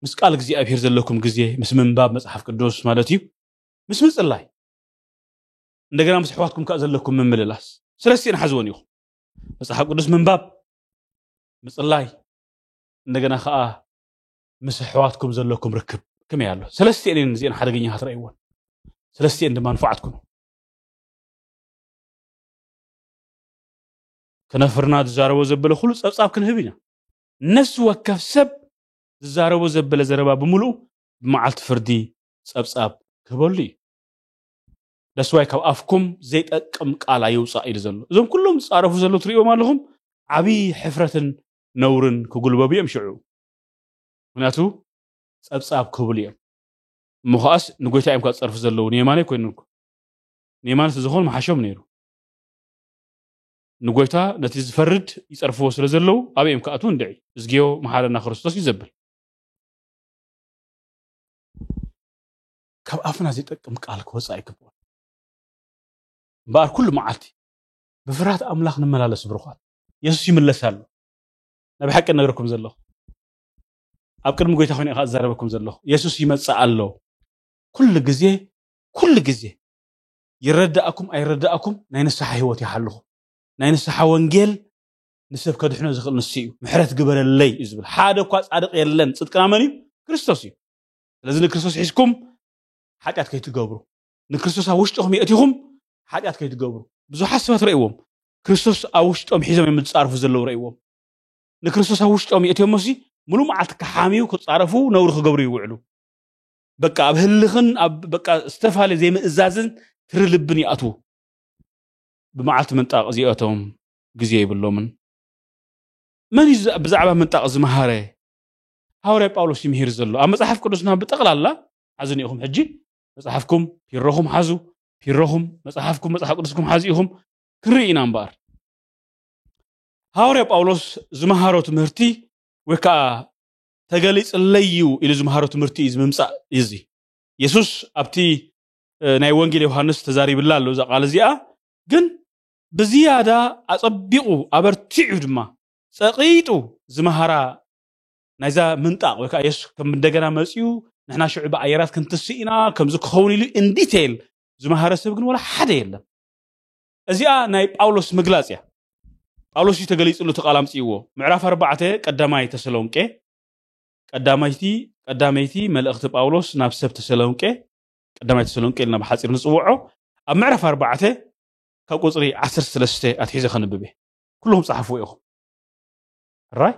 ምስ ቃል እግዚኣብሄር ዘለኩም ግዜ ምስ ምንባብ መፅሓፍ ቅዱስ ማለት እዩ ምስ ምጽላይ እንደገና ምስ ኣሕዋትኩም ከኣ ዘለኩም ምምልላስ ስለስቲን ሓዝወን ኢኹም መጽሓፍ ቅዱስ ምንባብ ምጽላይ እንደገና ከዓ ምስ ኣሕዋትኩም ዘለኩም ርክብ ከመይ ኣሎ ሰለስቲኤን እየን እዚኤን ሓደገኛ ክትረእይዎን ሰለስቲኤን ድማ ንፉዓት ኩኑ ከነፍርና ዝዛረቦ ዘበለ ኩሉ ፀብፃብ ክንህብ ኢና ነፍሲ ወከፍ ሰብ ዝዛረቦ ዘበለ ዘረባ ብምሉኡ ብመዓልቲ ፍርዲ ጸብጻብ ክህበሉ እዩ። That's why ካብ ኣፍኩም ዘይጠቅም ቃል ኣይውጻእ ኢሉ ዘሎ። እዞም ኩሎም ዝጻረፉ ዘለዉ ትርእይዎም ኣለኹም ዓቢ ሕፍረትን ነውርን ክጉልበቡ እዮም ሽዑ። ምክንያቱ ጸብጻብ ክህብሉ እዮም። እሞ ከኣስ ንጎይታ እዮም ካብ ዝጸርፉ ዘለዉ ንየማነይ ኮይኑ እኮ ንየማነ ስለዝኾኑ መሓሾም ነይሩ። ንጎይታ ነቲ ዝፈርድ ይጸርፍዎ ስለ ዘለዉ ኣበይ እዮም ክኣትዉ እንድዒ እዝግዮ መሓረና ክርስቶስ እዩ ዘብል ካብ ኣፍና ዘይጠቅም ቃል ክወፅእ ኣይግብኦን እምበኣር ኩሉ መዓልቲ ብፍርሃት ኣምላኽ ንመላለስ ብሩኻት የሱስ ይምለስ ኣሎ ናይ ብሓቂ ነገርኩም ዘለኹ ኣብ ቅድሚ ጎይታ ኮይነ ኢኻ እዛረበኩም ዘለኹ የሱስ ይመፅእ ኣሎ ኩሉ ግዜ ኩሉ ግዜ ይረዳእኩም ኣይረዳእኩም ናይ ንስሓ ህይወት ይሓልኹ ናይ ንስሓ ወንጌል ንሰብ ከድሕኖ ዝኽእል ንሱ እዩ ምሕረት ግበረለይ እዩ ዝብል ሓደ እኳ ፃድቅ የለን ፅድቅና መን እዩ ክርስቶስ እዩ ስለዚ ንክርስቶስ ሒዝኩም ሓጢኣት ከይትገብሩ ንክርስቶስ ኣብ ውሽጥኹም የእቲኹም ሓጢኣት ከይትገብሩ ብዙሓት ሰባት ረእዎም ክርስቶስ ኣብ ውሽጦም ሒዞም እዮም ዝፃርፉ ዘለዉ ረእዎም ንክርስቶስ ኣብ ውሽጦም የእትዮሞሲ ሙሉእ መዓልቲ ክሓምዩ ክፃረፉ ነውሪ ክገብሩ ይውዕሉ በቃ ኣብ ህልኽን ኣብ በቃ ዝተፈላለየ ዘይምእዛዝን ትሪ ልብን ይኣትዉ ብመዓልቲ ምንጣቕ እዚኦቶም ግዜ የብሎምን። መን እዩ ብዛዕባ ምንጣቕ ዝመሃረ? ሃዋርያ ጳውሎስ እዩ ምሂር ዘሎ። ኣብ መጽሓፍ ቅዱስና ብጠቕላላ ሓዙኒ ኢኹም ሕጂ መጽሓፍኩም ፒሮኹም ሓዙ ፒሮኹም መጽሓፍኩም መጽሓፍ ቅዱስኩም ሓዙ ኢኹም ክንርኢ ኢና እምበኣር ሃዋርያ ጳውሎስ ዝመሃሮ ትምህርቲ ወይ ከዓ ተገሊፅለይ እዩ ኢሉ ዝመሃሮ ትምህርቲ እዩ ዝምምፃእ እዩ እዚ የሱስ ኣብቲ ናይ ወንጌል ዮሃንስ ተዛሪብላ ኣሎ እዛ ቃል እዚኣ ግን ብዝያዳ ኣጸቢቑ ኣበርቲዑ ድማ ጸቒጡ ዝመሃራ ናይዛ ምንጣቕ ወይ ከኣ የሱስ ከም እንደገና መጺኡ ንሕና ሽዑ ብኣየራት ክንትስእ ኢና ከምዚ ክኸውን ኢሉ ኢን ዲቴይል ዝመሃረ ሰብ ግን ወላ ሓደ የለን። እዚኣ ናይ ጳውሎስ ምግላጽ እያ። ጳውሎስ እዩ ተገሊጽሉ እቲ ቃል ኣምጺእዎ ምዕራፍ ኣርባዕተ ቀዳማይ ተሰሎንቄ ቀዳመይቲ ቀዳመይቲ መልእኽቲ ጳውሎስ ናብ ሰብ ተሰሎንቄ ቀዳማይ ተሰሎንቄ ኢልና ብሓጺር ንጽውዖ ኣብ ምዕራፍ ኣርባዕተ ካብ ቁጽሪ ዓሰርተ ሰለስተ ኣትሒዘ ከንብብ እየ ኩልኹም ጸሓፍዎ ኢኹም ሕራይ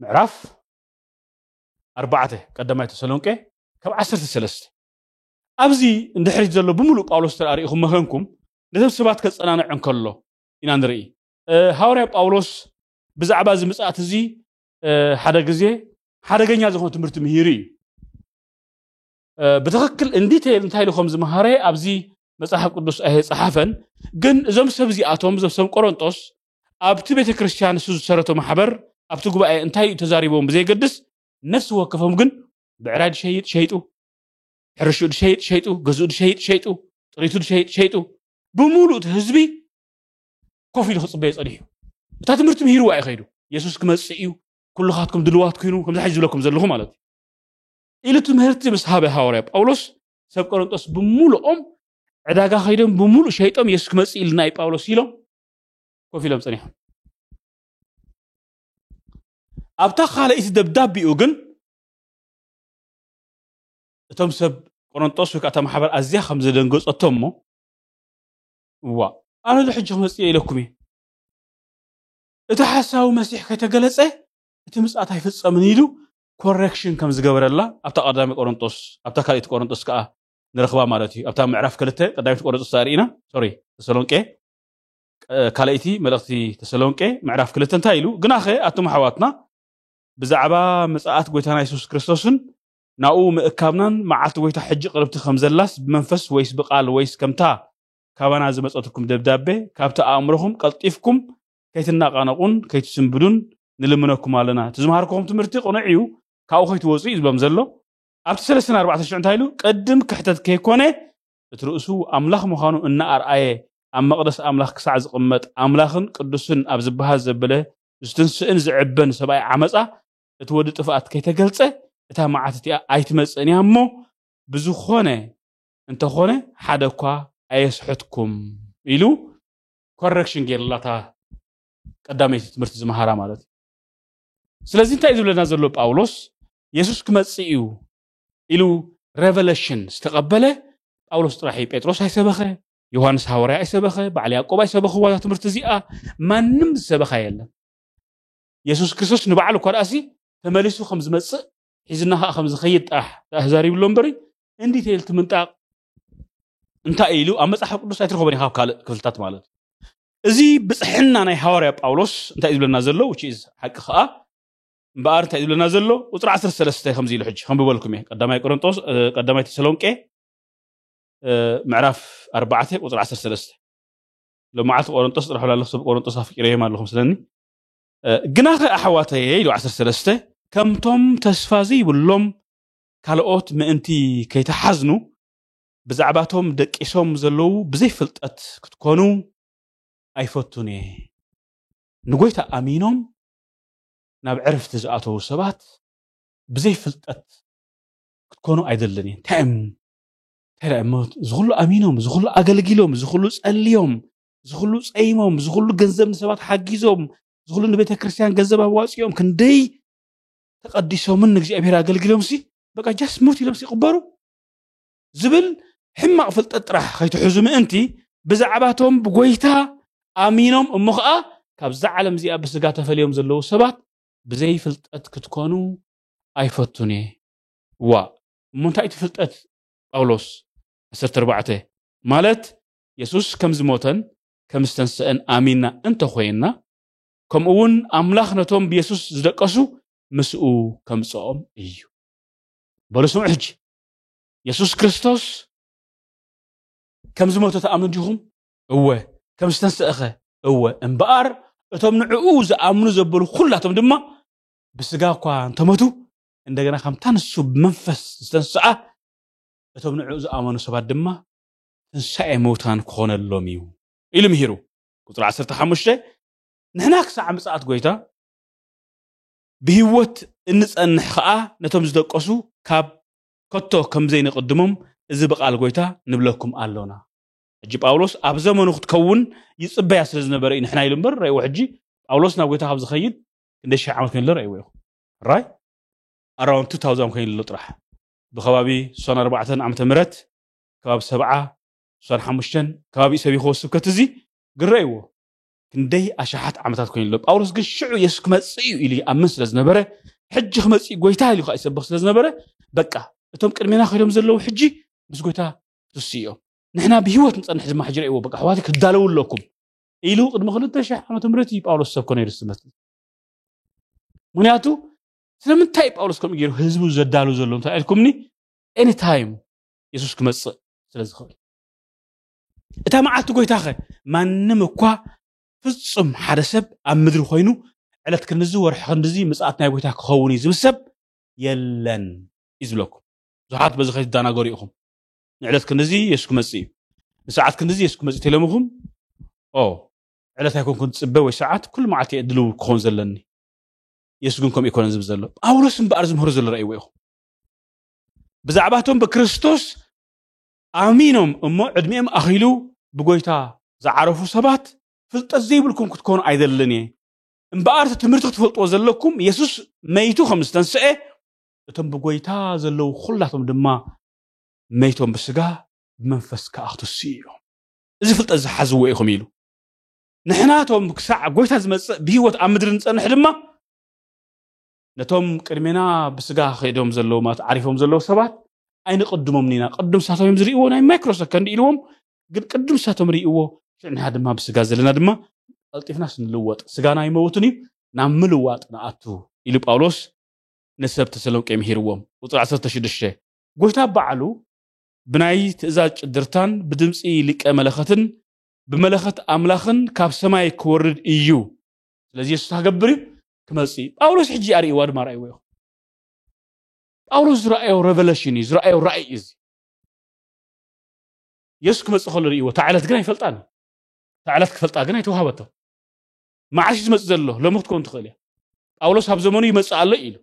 ምዕራፍ ኣርባዕተ ቀዳማይ ተሰሎንቄ ካብ ዓሰርተ ሰለስተ ኣብዚ እንድሕሪት ዘሎ ብምሉእ ጳውሎስ ተርኣሪኢኹም መኸንኩም ነቶም ሰባት ከጸናንዕ እንከሎ ኢና ንርኢ ሃዋርያ ጳውሎስ ብዛዕባ እዚ ምጽኣት እዚ ሓደ ግዜ ሓደገኛ ዝኾነ ትምህርቲ ምሂሩ እዩ ብትኽክል እንዲቴል እንታይ ኢሉ ከም ዝመሃረ ኣብዚ መጽሓፍ ቅዱስ ኣይጸሓፈን። ግን እዞም ሰብ እዚኣቶም እዞም ሰብ ቆሮንጦስ ኣብቲ ቤተ ክርስቲያን ንሱ ዝሰረቶ ማሕበር ኣብቲ ጉባኤ እንታይ እዩ ተዛሪቦም ብዘይገድስ ነፍሲ ወከፎም ግን ብዕራይ ድሸይጥ ሸይጡ፣ ሕርሽኡ ድሸይጥ ሸይጡ፣ ገዝኡ ድሸይጥ ሸይጡ፣ ጥሪቱ ድሸይጥ ሸይጡ ብምሉእ እቲ ህዝቢ ኮፍ ኢሉ ክጽበዮ ጸኒሑ እታ ትምህርቲ ምሂርዋ እዩ ከይዱ። የሱስ ክመጽእ እዩ ኩልኻትኩም ድልዋት ኩኑ ከምዚ ሕጂ ዝብለኩም ዘለኹ ማለት እዩ። ኢሉ ትምህርቲ ምስ ሃበ ሃዋርያ ጳውሎስ ሰብ ቆረንጦስ ብምሉኦም ዕዳጋ ከይዶም ብምሉእ ሸይጦም የሱስ ክመፅእ ኢልና እዩ ጳውሎስ ኢሎም ኮፍ ኢሎም ፀኒሖም ኣብታ ካልኣይቲ ደብዳቤኡ ግን እቶም ሰብ ቆረንጦስ ወይ ከዓ እታ ማሕበር ኣዝያ ከም ዘደንገፀቶ እሞ እዋ ኣነ ዶ ሕጂ ክመፅእ እየ ኢለኩም እየ እቲ ሓሳዊ መሲሕ ከይተገለፀ እቲ ምፅኣት ኣይፍፀምን ኢሉ ኮረክሽን ከም ዝገበረላ ኣብታ ቀዳሚ ቆሮንጦስ ኣብታ ካልኢት ቆሮንጦስ ከኣ ንረኽባ ማለት እዩ ኣብታ ምዕራፍ ክልተ ቀዳሚት ቆሮንጦስ ተርእና ሶሪ ተሰሎንቄ ካልኣይቲ መልእኽቲ ተሰሎንቄ ምዕራፍ ክልተ እንታይ ኢሉ ግናኸ ኣቱም ኣሕዋትና ብዛዕባ ምጽኣት ጎይታና የሱስ ክርስቶስን ናብኡ ምእካብናን መዓልቲ ጎይታ ሕጂ ቅርብቲ ከም ዘላስ ብመንፈስ ወይስ ብቃል ወይስ ከምታ ካባና ዝመጸትኩም ደብዳቤ ካብቲ ኣእምሮኹም ቀልጢፍኩም ከይትናቓነቑን ከይትስንብዱን ንልምነኩም ኣለና። እቲ ዝመሃርክኹም ትምህርቲ ቅኑዕ እዩ፣ ካብኡ ከይትወጹ እዩ ዝብሎም ዘሎ። ኣብቲ ሰለስተን ኣርባዕተን ሽዑ እንታይ ኢሉ? ቅድም ክሕተት ከይኮነ እቲ ርእሱ ኣምላኽ ምዃኑ እናኣርኣየ ኣብ መቕደስ ኣምላኽ ክሳዕ ዝቕመጥ ኣምላኽን ቅዱስን ኣብ ዝበሃል ዘበለ ዝትንስእን ዝዕበን ሰብኣይ ዓመጻ እቲ ወዲ ጥፍኣት ከይተገልጸ እታ መዓት እቲኣ ኣይትመጽእን እያ እሞ ብዝኾነ እንተኾነ ሓደኳ ኣየስሕትኩም ኢሉ ኮረክሽን ገይርላ እታ ቀዳመይቲ ትምህርቲ ዝመሃራ ማለት እዩ ስለዚ እንታይ እዩ ዝብለና ዘሎ ጳውሎስ የሱስ ክመፅእ እዩ ኢሉ ሬቨለሽን ዝተቐበለ ጳውሎስ ጥራሕ እዩ ጴጥሮስ ኣይሰበኸ ዮሃንስ ሃዋርያ ኣይሰበኸ በዓል ያዕቆብ ኣይሰበኽዋ እዛ ትምህርቲ እዚኣ ማንም ዝሰበኻ የለን የሱስ ክርስቶስ ንበዓሉ እኳ ደኣሲ ተመሊሱ ከም ዝመፅእ ሒዝና ከዓ ከም ዝኸይድ ጥራሕ ተዛሪብሎ እምበሪ እንዲቴል ትምንጣቕ እንታይ ኢሉ ኣብ መፅሓፍ ቅዱስ ኣይትረኽቦን ኢኻ ኣብ ካልእ ክፍልታት ማለት እዩ እዚ ብፅሕና ናይ ሃዋርያ ጳውሎስ እንታይ እዩ ዝብለና ዘሎ ውጭ ሓቂ ከዓ እምበኣር እንታይ እዩ ዝብለና ዘሎ ቁፅሪ 13 ከምዚ ኢሉ ሕጂ ከንብበልኩም እየ ቀዳማይ ቆሮንጦስ እ፣ ቀዳማይ ተሰሎንቄ እ፣ ምዕራፍ 4 ቁፅሪ 13 ሎማዓልቲ ቆሮንጦስ ጥራሕ ብላ ኣለኹ ሰብ ቆሮንጦስ ኣፍቂረዮም ኣለኹም ስለኒ እ፣ ግናኸ ኣሕዋተየ ኢሉ 13 ከምቶም ተስፋ ዘይብሎም ካልኦት ምእንቲ ከይትሓዝኑ ብዛዕባቶም ደቂሶም ዘለዉ ብዘይ ፍልጠት ክትኮኑ ኣይፈቱን እየ። ንጎይታ ኣሚኖም ናብ ዕርፍቲ ዝኣተዉ ሰባት ብዘይ ፍልጠት ክትኮኑ ኣይደልን እየ። እንታይ እም እንታይ ደኣ እሞ እዚ ኩሉ ኣሚኖም እዚ ኩሉ ኣገልጊሎም እዚ ኩሉ ጸልዮም እዚ ኩሉ ጸይሞም እዚ ኩሉ ገንዘብ ንሰባት ሓጊዞም እዚ ኩሉ ንቤተ ክርስቲያን ገንዘብ ኣዋጺኦም ክንደይ ተቀዲሶምን ንእግዚኣብሔር ኣገልግሎምሲ በቃ ጃስ ሙት ኢሎምሲ ይቕበሩ ዝብል ሕማቕ ፍልጠት ጥራሕ ከይትሕዙ ምእንቲ ብዛዕባቶም ብጎይታ ኣሚኖም እሞ ከዓ ካብዛ ዓለም እዚኣ ብስጋ ተፈልዮም ዘለዉ ሰባት ብዘይ ፍልጠት ክትኮኑ ኣይፈቱን እየ ዋ እሞ እንታይ እቲ ፍልጠት ጳውሎስ 14 ማለት የሱስ ከም ዝሞተን ከም ዝተንስአን ኣሚንና እንተኾይንና ከምኡ እውን ኣምላኽ ነቶም ብየሱስ ዝደቀሱ ምስኡ ከምጽኦም እዩ በሉ ስምዑ ሕጂ የሱስ ክርስቶስ ከም ዝሞተ ተኣምኑ ዲኹም እወ ከም ዝተንስእኸ እወ እምበኣር እቶም ንዕኡ ዝኣምኑ ዘበሉ ኩላቶም ድማ ብስጋ እኳ እንተመቱ እንደገና ከምታ ንሱ ብመንፈስ ዝተንስኣ እቶም ንዕኡ ዝኣመኑ ሰባት ድማ ትንሳኤ ምውታን ክኾነሎም እዩ ኢሉ ምሂሩ ቁፅሪ ዓሰርተ ሓሙሽተ ንሕና ክሳዕ ምጽኣት ጎይታ ብህይወት እንጸንሕ ኸኣ ነቶም ዝደቀሱ ካብ ከቶ ከም ዘይንቕድሞም እዚ ብቓል ጎይታ ንብለኩም ኣሎና ሕጂ ጳውሎስ ኣብ ዘመኑ ክትከውን ይጽበያ ስለ ዝነበረ እዩ ንሕና ኢሉ እምበር ረእዎ ሕጂ ጳውሎስ ናብ ጎይታ ካብ ዝኸይድ ክንደይ ሽሕ ዓመት ኮይኑሎ ረእዎ ኢኹ ራይ ኣራውንቱ ታውዛም ኮይኑሎ ጥራሕ ብከባቢ ሶን ኣርባዕተን ዓመተ ምረት ከባቢ ሰብዓ ዕስራን ሓሙሽተን ከባቢኡ ሰቢኽዎ ስብከት እዚ ግረይዎ ክንደይ ኣሽሓት ዓመታት ኮይኑ ኣሎ ጳውሎስ ግን ሽዑ የሱስ ክመጽእ እዩ ኢሉ ይኣምን ስለ ዝነበረ ሕጂ ክመጽእ እዩ ጎይታ ኢሉ ከዓ ይሰብኽ ስለ ዝነበረ በቃ እቶም ቅድሜና ከይዶም ዘለዉ ሕጂ ምስ ጎይታ ትስኡ እዮም ንሕና ብሂወት ንጸንሕ ድማ ሕጂ ረእይዎ በቃ ኣሕዋት ክዳለዉ ኣለኩም ኢሉ ቅድሚ ክልተ ሽሕ ዓመተ ምህረት እዩ ጳውሎስ ሰብኮ ነይሩ ስመት ምክንያቱ ስለምንታይ ጳውሎስ ከምኡ ገይሩ ህዝቡ ዘዳሉ ዘሎ እንታይ ኢልኩምኒ ኤኒ ታይም የሱስ ክመጽእ ስለ ዝኽእል እታ መዓልቲ ጎይታኸ ማንም እኳ ፍጹም ሓደ ሰብ ኣብ ምድሪ ኮይኑ ዕለት ክንድዚ ወርሒ ክንድዚ ምጽኣት ናይ ጎይታ ክኸውን እዩ ዝብል ሰብ የለን እዩ ዝብለኩም ብዙሓት በዚ ከይትደናገሩ ኢኹም ንዕለት ክንድዚ የሱ ክመጽእ እዩ ንሰዓት ክንድዚ የሱ ክመጽእ ተለምኹም ኦ ዕለት ኣይኮንኩን ዝፅበ ወይ ሰዓት ኩሉ መዓልቲ እየ ድልው ክኸውን ዘለኒ የሱ ግን ከምኡ ይኮነን ዝብል ዘሎ ጳውሎስ እምበኣር ዝምህሩ ዘሎ ረእይዎ ኢኹም ብዛዕባ እቶም ብክርስቶስ ኣሚኖም እሞ ዕድሜኦም ኣኺሉ ብጎይታ ዝዓረፉ ሰባት ፍልጠት ዘይብልኩም ክትኮኑ ኣይደልን እየ እምበኣር እቲ ትምህርቲ ክትፈልጥዎ ዘለኩም የሱስ መይቱ ከም ዝተንስአ እቶም ብጎይታ ዘለዉ ኩላቶም ድማ መይቶም ብስጋ ብመንፈስ ከዓ ክትስኡ እዮም እዚ ፍልጠት ዝሓዝዎ ኢኹም ኢሉ ንሕናቶም ክሳዕ ጎይታ ዝመፅእ ብሂወት ኣብ ምድሪ ንፀንሕ ድማ ነቶም ቅድሜና ብስጋ ከይዶም ዘለዉ ማለት ዓሪፎም ዘለዉ ሰባት ኣይንቕድሞም ኒና ቅዱም ሳቶም እዮም ዝርእይዎ ናይ ማይክሮ ሰከንድ ኢልዎም ግን ቅዱም ሳቶም ርእይዎ ሽዕ ንና ድማ ብስጋ ዘለና ድማ ቀልጢፍናስ ንልወጥ ስጋና ይመውትን እዩ ናብ ምልዋጥ ንኣቱ ኢሉ ጳውሎስ ንሰብ ተሰሎንቄ ምሂርዎም ቁፅሪ 16 ጎይታ ባዕሉ ብናይ ትእዛዝ ጭድርታን ብድምፂ ሊቀ መለኸትን ብመለኸት ኣምላኽን ካብ ሰማይ ክወርድ እዩ ስለዚ የሱስ ክገብር እዩ ክመፅእ እዩ ጳውሎስ ሕጂ ኣርእይዋ ድማ ርኣይዎ ኢኹም ጳውሎስ ዝረኣዮ ረቨለሽን እዩ ዝረኣዮ ራእይ እዩ እዚ የሱስ ክመፅእ ከሎ ርእይዎ እታ ዕለት ግን ኣይፈልጣን እዩ እታ ዕለት ክፈልጣ ግን ኣይተዋሃበቶ መዓስ እዩ ዝመፅእ ዘሎ ሎሚ ክትከውን ትኽእል እያ ጳውሎስ ኣብ ዘመኑ ይመፅእ ኣሎ ኢሉ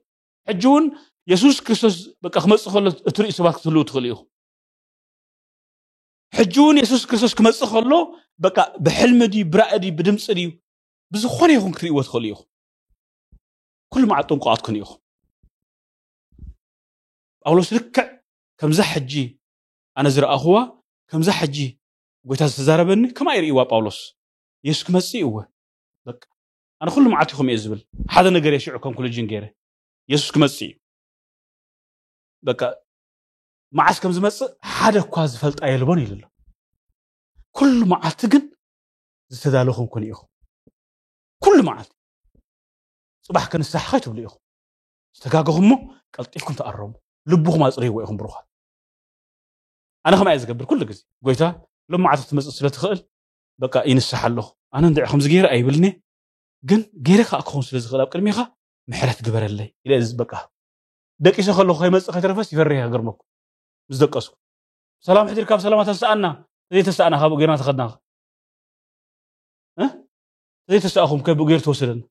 ሕጂ እውን የሱስ ክርስቶስ በቃ ክመፅእ ከሎ እትርእዩ ሰባት ክትህልው ትኽእሉ ኢኹም ሕጂ እውን የሱስ ክርስቶስ ክመፅእ ከሎ በቃ ብሕልሚ ድዩ ብራእይ ድዩ ብድምፂ ድዩ ብዝኾነ ይኹን ክትርእይዎ ትኽእሉ ኢኹም ኩሉ መዓት ጥንቁቓት ኩኑ ኢኹም ጳውሎስ ልክዕ ከምዛ ሕጂ ኣነ ዝረኣኹዋ ከምዛ ሕጂ ጎይታ ዝተዛረበኒ ከምኣ ይርእይዋ ጳውሎስ የሱስ ክመፅእ እወ በቃ ኣነ ኩሉ መዓት ኢኹም እየ ዝብል ሓደ ነገር እየ ሽዑ ኮንክሉጅን ገይረ የሱስ ክመፅእ እዩ በቃ መዓስ ከም ዝመፅእ ሓደ እኳ ዝፈልጣ የልቦን ኢሉ ኣሎ ኩሉ መዓልቲ ግን ዝተዳለኹም ኩኑ ኢኹም ኩሉ መዓልቲ ጽባሕ ክንሳሕ ኸይ ትብሉ ኢኹም ዝተጋገኹም እሞ ቀልጢፍኩም ተኣረሙ ልብኹም ኣጽርይዎ ኢኹም ብሩኻት ኣነ ከምኣ እየ ዝገብር ኩሉ ግዜ ጎይታ ሎም መዓልቲ ክትመፅእ ስለ ትኽእል በቃ ይንሳሕ ኣለኹ ኣነ እንድዕ ከምዚ ገይረ ኣይብልኒ ግን ገይረ ከዓ ክኸውን ስለ ዝኽእል ኣብ ቅድሚኻ ምሕረት ግበረለይ ኢለ በቃ ደቂሰ ከለኹ ከይመፅእ ከይተረፈስ ይፈርህ ይገርመኩም ምስ ደቀስኩ ሰላም ሕድርካ ብሰላማ ተሰኣና ዘይተሰኣና ካብኡ ገይርና ተኸድና ዘይተስኣኹም ከ ብኡ ገይሩ ተወሰደና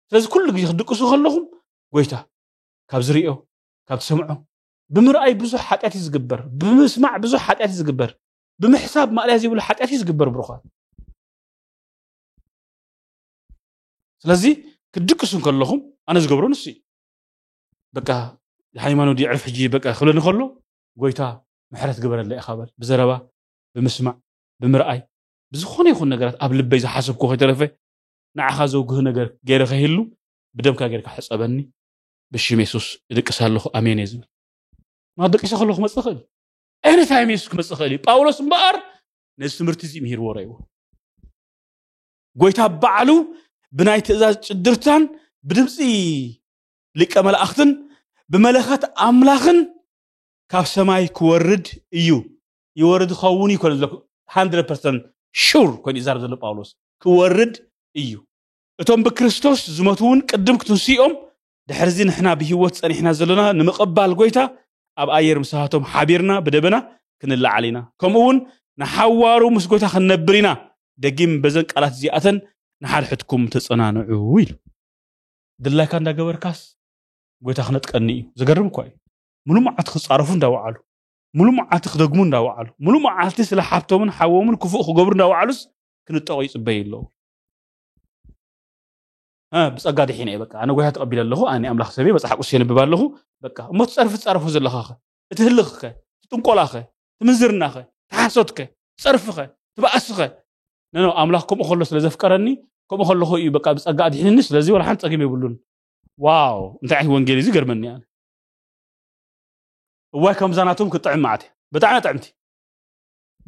ስለዚ ኩሉ ግዜ ክትድቅሱ ከለኹም ጎይታ ካብ ዝርዮ ካብ ትሰምዖ ብምርኣይ ብዙሕ ሓጢኣት እዩ ዝግበር ብምስማዕ ብዙሕ ሓጢኣት እዩ ዝግበር ብምሕሳብ ማእለያ ዘይብሉ ሓጢኣት እዩ ዝግበር ብሩኻት ስለዚ ክትድቅሱ ከለኹም ኣነ ዝገብሮ ንሱ እዩ በቃ ሃይማኖት የዕርፍ ሕጂ በቃ ክብለኒ ከሎ ጎይታ ምሕረት ግበረለይ ኢኻ በል ብዘረባ ብምስማዕ ብምርኣይ ብዝኾነ ይኹን ነገራት ኣብ ልበይ ዝሓሰብኩዎ ከይተረፈ ንዓኻ ዘውግህ ነገር ገይረ ከይህሉ ብደምካ ገይርካ ሕጸበኒ ብሽም የሱስ እድቅስ ኣለኹ ኣሜን እየ ዝብል ናብ ደቂሰ ከሎ ክመጽእ ኽእል ኤኒ ታይም የሱስ ክመጽእ ኽእል እዩ ጳውሎስ እምበኣር ነዚ ትምህርቲ እዚ ምሂርዎ ረይዎ ጎይታ ባዕሉ ብናይ ትእዛዝ ጭድርታን ብድምፂ ሊቀ መላእኽትን ብመለኸት ኣምላኽን ካብ ሰማይ ክወርድ እዩ ይወርድ ይኸውን እዩ ኮነ ዘሎ ሃንድረድ ፐርሰንት ሹር ኮይኑ ይዛረብ ዘሎ ጳውሎስ ክወርድ እዩ እቶም ብክርስቶስ ዝመቱ እውን ቅድም ክትንስኦም ድሕርዚ ንሕና ብህይወት ጸኒሕና ዘሎና ንምቕባል ጎይታ ኣብ ኣየር ምሳቶም ሓቢርና ብደበና ክንለዓል ኢና ከምኡ እውን ንሓዋሩ ምስ ጎይታ ክንነብር ኢና ደጊም በዘን ቃላት እዚኣተን ንሓድሕድኩም ተጸናንዑ ኢሉ ድላይካ እንዳገበርካስ ጎይታ ክነጥቀኒ እዩ ዘገርም እኳ እዩ ሙሉእ መዓልቲ ክጻረፉ እንዳወዓሉ ሙሉእ መዓልቲ ክደግሙ እንዳወዓሉ ሙሉእ መዓልቲ ስለ ሓብቶምን ሓዎምን ክፉእ ክገብሩ እንዳወዓሉስ ክንጠቑ ይፅበዩ ኣለዉ ብፀጋ ድሒነ እየ በቃ ኣነ ጎይታ ተቐቢለ ኣለኹ ኣነ ኣምላኽ ሰበ መፅሓፍ ቅዱስ የንብብ ኣለኹ በቃ እሞ ትፀርፊ ትፀርፉ ዘለኻ ኸ እቲ ህልኽ ኸ እቲ ጥንቆላ ኸ እቲ ምንዝርና ኸ እቲ ሓሶት ኸ ትፀርፊ ኸ ትበኣሲ ኸ ነኖ ኣምላኽ ከምኡ ከሎ ስለ ዘፍቀረኒ ከምኡ ከለኹ እዩ በቃ ብፀጋ ኣድሒንኒ ስለዚ ወላ ሓንቲ ፀገም የብሉን ዋው እንታይ ዓይነት ወንጌል እዩ ዝገርመኒ ኣነ እዋይ ከምዛ ናቶም ክትጥዕም መዓት እያ ብጣዕሚ እያ ጥዕምቲ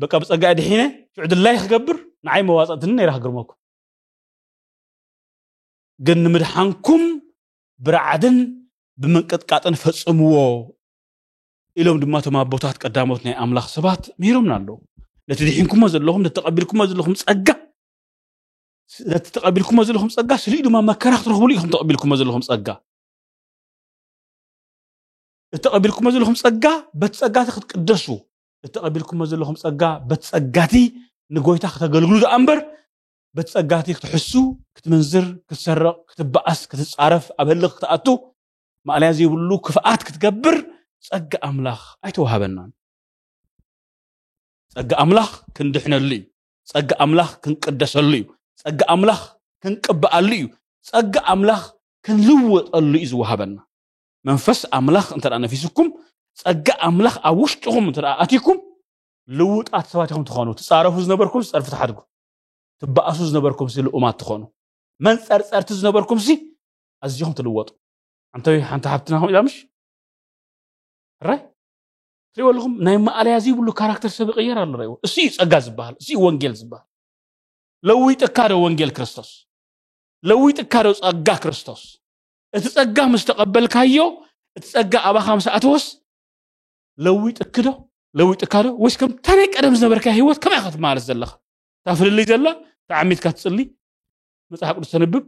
በቃ ብጸጋ እየ ድሒነ ሽዑ ድላይ ክገብር ንዓይ መዋጽእትኒ ነይራ ክግርመኩም ግን ንምድሓንኩም ብርዓድን ብምንቅጥቃጥን ፈጽምዎ ኢሎም ድማ እቶም ኣቦታት ቀዳሞት ናይ ኣምላኽ ሰባት ምሂሮምና ኣለዉ ነቲ ድሒንኩሞ ዘለኹም ነቲ ተቐቢልኩሞ ዘለኹም ጸጋ ነቲ ተቐቢልኩሞ ዘለኹም ጸጋ ስልዩ ድማ መከራ ክትረኽብሉ ኢኹም ተቐቢልኩሞ ዘለኹም ጸጋ እተቐቢልኩሞ ዘለኹም ጸጋ በቲ ጸጋቲ ክትቅደሱ እተቐቢልኩሞ ዘለኹም ጸጋ በቲ ጸጋቲ ንጎይታ ክተገልግሉ ደኣ እምበር በቲ ጸጋቲ ክትሕሱ ክትምንዝር ክትሰርቕ ክትበኣስ ክትጻረፍ ኣብ ህልኽ ክትኣቱ ማእለያ ዘይብሉ ክፍኣት ክትገብር ጸጋ ኣምላኽ ኣይተዋሃበናን ጸጋ ኣምላኽ ክንድሕነሉ እዩ ጸጋ ኣምላኽ ክንቅደሰሉ እዩ ጸጋ ኣምላኽ ክንቅበኣሉ እዩ ጸጋ ኣምላኽ ክንልወጠሉ እዩ ዝወሃበና መንፈስ ኣምላኽ እንተ ነፊሱኩም ጸጋ ኣምላኽ ኣብ ውሽጥኹም እንተ ኣትይኩም ልውጣት ሰባት ኢኹም ትኾኑ ትጻረፉ ዝነበርኩም ጸርፊ ትሓድጉ ትበኣሱ ዝነበርኩም ሲ ልኡማት ትኾኑ መንጸርጸርቲ ዝነበርኩም ሲ ኣዚኹም ትልወጡ ኣንተ ሓንቲ ሓብትና ከምኡ ኢላ ምሽ ራይ ትሪእዎ ኣለኹም ናይ ማእለያ ዘይብሉ ካራክተር ሰብ ይቕየር ኣሎ ሪእዎ እሱ እዩ ጸጋ ዝበሃል እሱ እዩ ወንጌል ዝበሃል ለዊጥካ ዶ ወንጌል ክርስቶስ ለዊጥካ ዶ ጸጋ ክርስቶስ እቲ ጸጋ ምስ ተቐበልካዮ እቲ ጸጋ ኣባኻ ምስ ኣተወስ ለዊጥክ ዶ ለዊጥካ ዶ ወይስ ከምታ ናይ ቀደም ዝነበርካ ህይወት ከመይ ኢኻ ትመላለስ ዘለኻ እታ ፍልልይ ዘላ ተዓሚትካ ትጽሊ መጽሓፍ ቅዱስ ተንብብ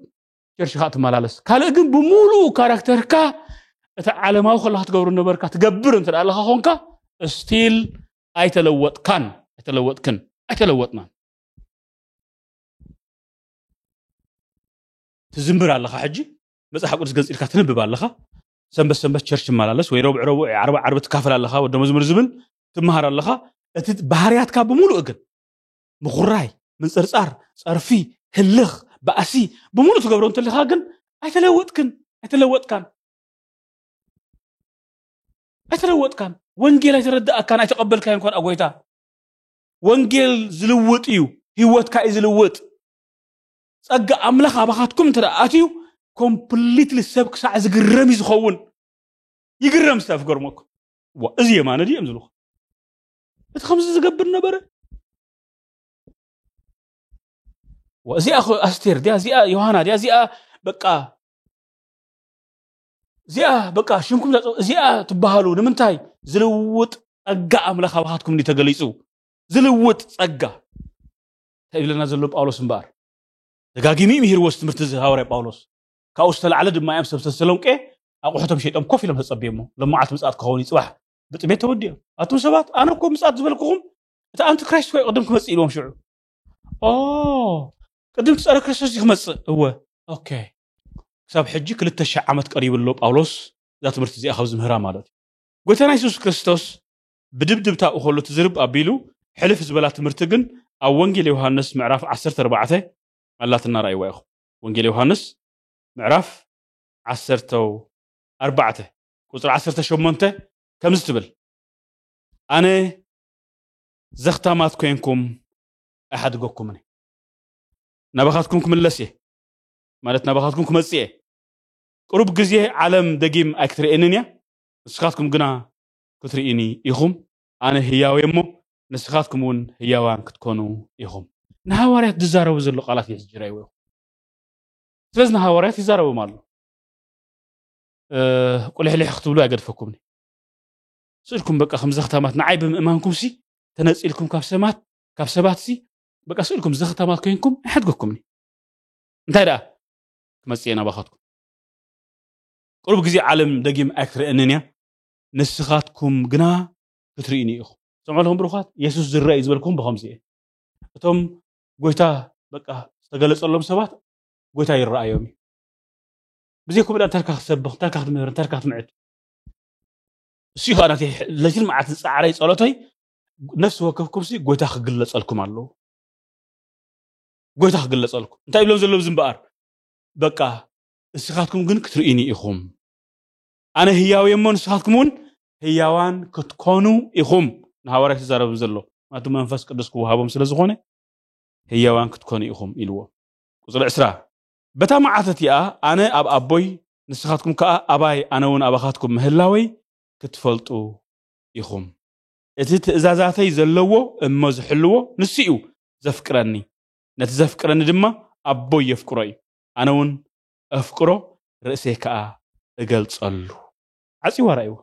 ቸርሽ ከዓ ትመላለስ ካልእ ግን ብምሉኡ ካራክተርካ እቲ ዓለማዊ ከለካ ትገብሩ ነበርካ ትገብር እንተ ኣለካ ኮንካ ስቲል ኣይተለወጥካን ኣይተለወጥክን ኣይተለወጥናን ትዝምር ኣለኻ ሕጂ መጽሓፍ ቅዱስ ገንጺልካ ትንብብ ኣለኻ ሰንበት ሰንበት ቸርች ትመላለስ ወይ ረቡዕ ረቡዕ ዓርቢ ዓርቢ ትካፈል ኣለኻ ወደ መዝሙር ዝብል ትመሃር ኣለኻ እቲ ባህርያትካ ብምሉእ ግን ምኹራይ ምንፅርፃር ፀርፊ ህልኽ ባእሲ ብምሉእ ትገብሮ እንተለኻ ግን ኣይተለወጥክን ኣይተለወጥካን ኣይተለወጥካን ወንጌል ኣይተረዳእካን ኣይተቐበልካዮ እንኳን ኣጎይታ ወንጌል ዝልውጥ እዩ ህይወትካ እዩ ዝልውጥ ጸጋ ኣምላኽ ኣባኻትኩም እንተ ኣትዩ ኮምፕሊትሊ ሰብ ክሳዕ ዝግረም እዩ ዝኸውን ይግረም ሰብ ክገርመኩም ዋ እዚ የማነ ድዮም ዝብልኹ እቲ ከምዚ ዝገብር ነበረ ዋ እዚኣ ኣስቴር ድያ እዚኣ ዮሃና ድያ እዚኣ በቃ እዚኣ በቃ ሽምኩም እዚኣ ትበሃሉ ንምንታይ ዝልውጥ ጸጋ ኣምላኽ ኣባኻትኩም ተገሊጹ ዝልውጥ ጸጋ እንታይ ይብለና ዘሎ ጳውሎስ እምበኣር ደጋጊሙ እዩ ምሂርዎ ትምህርቲ እዚ ሃዋርያ ጳውሎስ ካብኡ ዝተላዕለ ድማ እዮም ሰብ ተሰሎንቄ ኣቑሑቶም ሸይጦም ኮፍ ኢሎም ተጸብየሞ ሎመዓልቲ ምጽኣት ክኸውን እዩ ጽባሕ ብጥሜት ተወዲኦም ኣቱም ሰባት ኣነ እኮ ምጽኣት ዝበልኩኹም እቲ ኣንቲ ክራይስት ኮይ ቅድም ክመጽእ ኢልዎም ሽዑ ኦ ቅድም ትጸረ ክርስቶስ እዩ ክመጽእ እወ ኦኬ ክሳብ ሕጂ ክልተ ሽሕ ዓመት ቀሪቡ ኣሎ ጳውሎስ እዛ ትምህርቲ እዚኣ ካብዚ ምህራ ማለት እዩ ጎይታና የሱስ ክርስቶስ ብድብድብታ እኸሉ ትዝርብ ኣቢሉ ሕልፍ ዝበላ ትምህርቲ ግን ኣብ ወንጌል ዮሃንስ ምዕራፍ ዓሰርተ ኣርባዕተ ኣላትና ርኣይዋ ኢኹም ወንጌል ዮሃንስ ምዕራፍ ዓሰርተ ኣርባዕተ ቁጽሪ ዓሰርተ ሸሞንተ ከምዚ ትብል ኣነ ዘኽታማት ኮይንኩም ኣይሓድገኩምን ናባኻትኩም ክምለስ እየ ማለት ናባኻትኩም ክመጽእ እየ ቅሩብ ግዜ ዓለም ደጊም ኣይክትርእየንን እያ ንስኻትኩም ግና ክትርኡኒ ኢኹም፣ ኣነ ህያው እየ እሞ፣ ንስኻትኩም እውን ህያዋን ክትኮኑ ኢኹም። ንሃዋርያት ዝዛረቦ ዘሎ ቃላት የሕጅራይዎ ኢኹም። ስለዚ ንሃዋርያት ይዛረቦም ኣሎ። ቁልሕልሕ ክትብሉ ኣይገድፈኩምኒ። ስእልኩም በቃ ከም ዘኽታማት ንዓይ ብምእማንኩምሲ ተነጺልኩም ካብ ሰማት ካብ ሰባትሲ በቃ ስእልኩም ዘኽታማት ኮይንኩም ኣይሓድገኩምኒ። እንታይ ደኣ ክመጽእ እየ ናባኻትኩም። ቅሩብ ግዜ ዓለም ደጊም ኣይክትርእንን እያ። ንስኻትኩም ግና ክትርኡኒ ኢኹም። ስምዑ ኣለኹም ብሩኻት፣ የሱስ ዝርኣ እዩ ዝበልክኹም ብኸምዚ እየ። እቶም ጎይታ በቃ ዝተገለጸሎም ሰባት ጎይታ ይረኣዮም እዩ። ብዘይ ከምኡ እንታይ ኢልካ ክትሰብኽ፣ እንታይ ኢልካ ክትምህር፣ እንታይ ኢልካ ክትምዕድ። እሱ ከኣ ናተይ ለይትን መዓልትን ጻዕረይ ጸሎተይ ነፍሲ ወከፍኩምሲ ጎይታ ክግለጸልኩም ኣለዎ። ጎይታ ክግለጸልኩም እንታይ ይብሎም ዘሎ እዚ እምበኣር በቃ እስኻትኩም ግን ክትርኡኒ ኢኹም። ኣነ ህያው እየ እሞ ንስኻትኩም እውን ህያዋን ክትኮኑ ኢኹም ንሃዋርያት ይዛረብም ዘሎ ማቱ መንፈስ ቅዱስ ክወሃቦም ስለ ዝኾነ ህያዋን ክትኮኑ ኢኹም ኢልዎ ቁፅሪ ዕስራ በታ መዓልቲ እቲኣ ኣነ ኣብ ኣቦይ ንስኻትኩም ከዓ ኣባይ ኣነ እውን ኣባኻትኩም ምህላወይ ክትፈልጡ ኢኹም እቲ ትእዛዛተይ ዘለዎ እሞ ዝሕልዎ ንሱ እዩ ዘፍቅረኒ ነቲ ዘፍቅረኒ ድማ ኣቦይ የፍቅሮ እዩ ኣነ እውን እፍቅሮ ርእሴ ከኣ እገልጸሉ። ዓጽዩ ኣራእይዎ።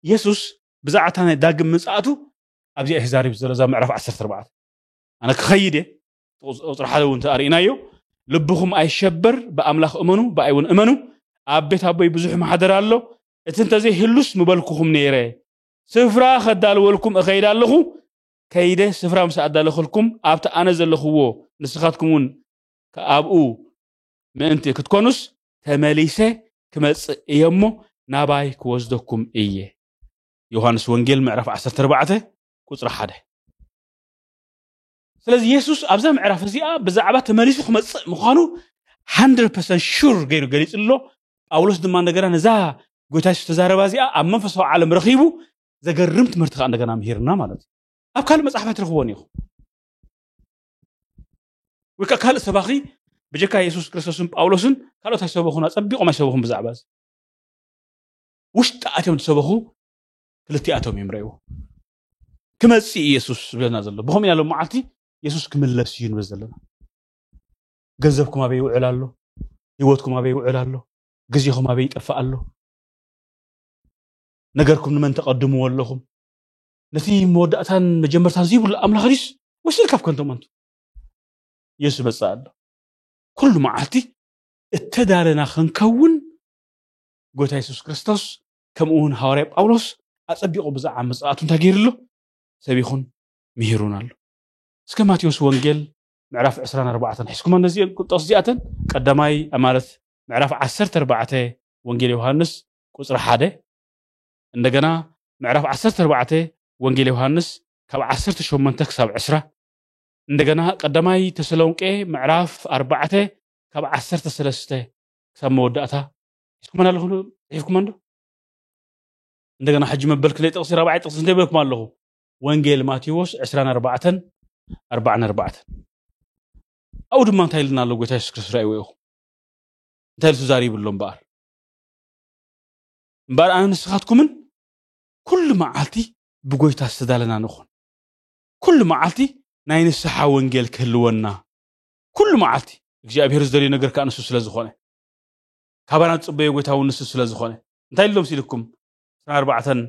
የሱስ ብዛዕባ እታ ናይ ዳግም ምጽኣቱ ኣብዚኣ እዩ ክዛረብ ዘሎ፣ እዛ ምዕራፍ ዓሰርተ ኣርባዕተ። ኣነ ክኸይድ እየ፣ ቁጽሪ ሓደ እውን እንተኣ ርኢናዮ፣ ልብኹም ኣይሸበር፣ ብኣምላኽ እመኑ፣ ብኣይ እውን እመኑ፣ ኣብ ቤት ኣቦይ ብዙሕ ማሕደር ኣሎ፣ እቲ እንተ ዘይህሉስ ምበልኩኹም ነይረ፣ ስፍራ ከዳልወልኩም እኸይድ ኣለኹ፣ ከይደ ስፍራ ምስ ኣዳለኹልኩም፣ ኣብቲ ኣነ ዘለኹዎ ንስኻትኩም እውን ኣብኡ ምእንቲ ክትኮኑስ ተመሊሰ ክመጽእ እየ እሞ ናባይ ክወስደኩም እየ። ዮሃንስ ወንጌል ምዕራፍ ዓሰርተ ኣርባዕተ ቁጽሪ ሓደ ስለዚ የሱስ ኣብዛ ምዕራፍ እዚኣ ብዛዕባ ተመሊሱ ክመጽእ ምዃኑ 100% ሹር ገይሩ ገሊጹ ኣሎ ጳውሎስ ድማ እንደገና ነዛ ጎይታ የሱስ ተዛረባ እዚኣ ኣብ መንፈሳዊ ዓለም ረኺቡ ዘገርም ትምህርቲ ከዓ እንደገና ምሂርና ማለት እዩ ኣብ ካልእ መፅሓፍ ኣይትረኽቦን ኢኹም ወይ ከዓ ካልእ ሰባኺ ብጀካ የሱስ ክርስቶስን ጳውሎስን ካልኦት ኣይሰበኹን ኣጸቢቖም ኣይሰበኹን ብዛዕባ እዚ ውሽጢ ኣትዮም ዝሰበኹ ክልቲኣቶም እዮም ረእዎ ክመፅእ ኢየሱስ ዝብለና ዘሎ ብኸምኡ ኢና ሎም መዓልቲ የሱስ ክምለስ እዩ ንብል ዘለና ገንዘብኩም ኣበይ ይውዕል ኣሎ ህይወትኩም ኣበይ ይውዕል ኣሎ ግዜኹም ኣበይ ይጠፍእ ኣሎ ነገርኩም ንመን ተቐድምዎ ኣለኹም ነቲ መወዳእታን መጀመርታን ዘይብሉ ኣምላኽ ድዩስ ወይስ ኢልካ ካብከንቶም ኣንቱ ኢየሱስ ይመጽእ ኣሎ ኩሉ መዓልቲ እተዳለና ክንከውን ጎይታ የሱስ ክርስቶስ ከምኡ እውን ሃዋርያ ጳውሎስ ኣጸቢቑ ብዛዕባ መጽኣቱ እንታይ ገይሩ ኣሎ ሰቢኹን ምሂሩን ኣሎ እስከ ማቴዎስ ወንጌል ምዕራፍ 24 ሒዝኩማ ነዚአን ቁጠስ እዚኣተን ቀዳማይ ማለት ምዕራፍ 14 ወንጌል ዮሃንስ ቁፅሪ ሓደ እንደገና ምዕራፍ ዓሰርተ ኣርባዕተ ወንጌል ዮሃንስ ካብ ዓሰርተ ሸሞንተ ክሳብ ዕስራ እንደገና ቀዳማይ ተሰሎንቄ ምዕራፍ ኣርባዕተ ካብ ዓሰርተ ሰለስተ ክሳብ መወዳእታ ሒዝኩመን ኣለኹም ዶ ሒዝኩመን ዶ እንደገና ሕጂ መበል ክንደይ ጥቕሲ ራብዓይ ጥቕሲ እንታይ በልኩም ኣለኹ ወንጌል ማቴዎስ ዕስራን ኣርባዕተን ኣርባዕን ኣርባዕተን ኣብኡ ድማ እንታይ ኢልና ኣሎ ጎይታ የሱስ ክርስቶስ ርኣይዎ ኢኹም እንታይ ኢሉ ተዛሪብሎም በኣር እምበኣር ኣነን ንስኻትኩምን ኩሉ መዓልቲ ብጎይታ ዝተዳለና ንኹን። ኩሉ መዓልቲ ናይ ንስሓ ወንጌል ክህልወና፣ ኩሉ መዓልቲ። እግዚኣብሄር ዝደልዮ ነገር ከኣ ንሱ ስለ ዝኾነ፣ ካባና ዝጽበዮ ጎይታ እውን ንሱ ስለ ዝኾነ፣ እንታይ ኢሉ መሲልኩም? ዕስራን ኣርባዕተን፣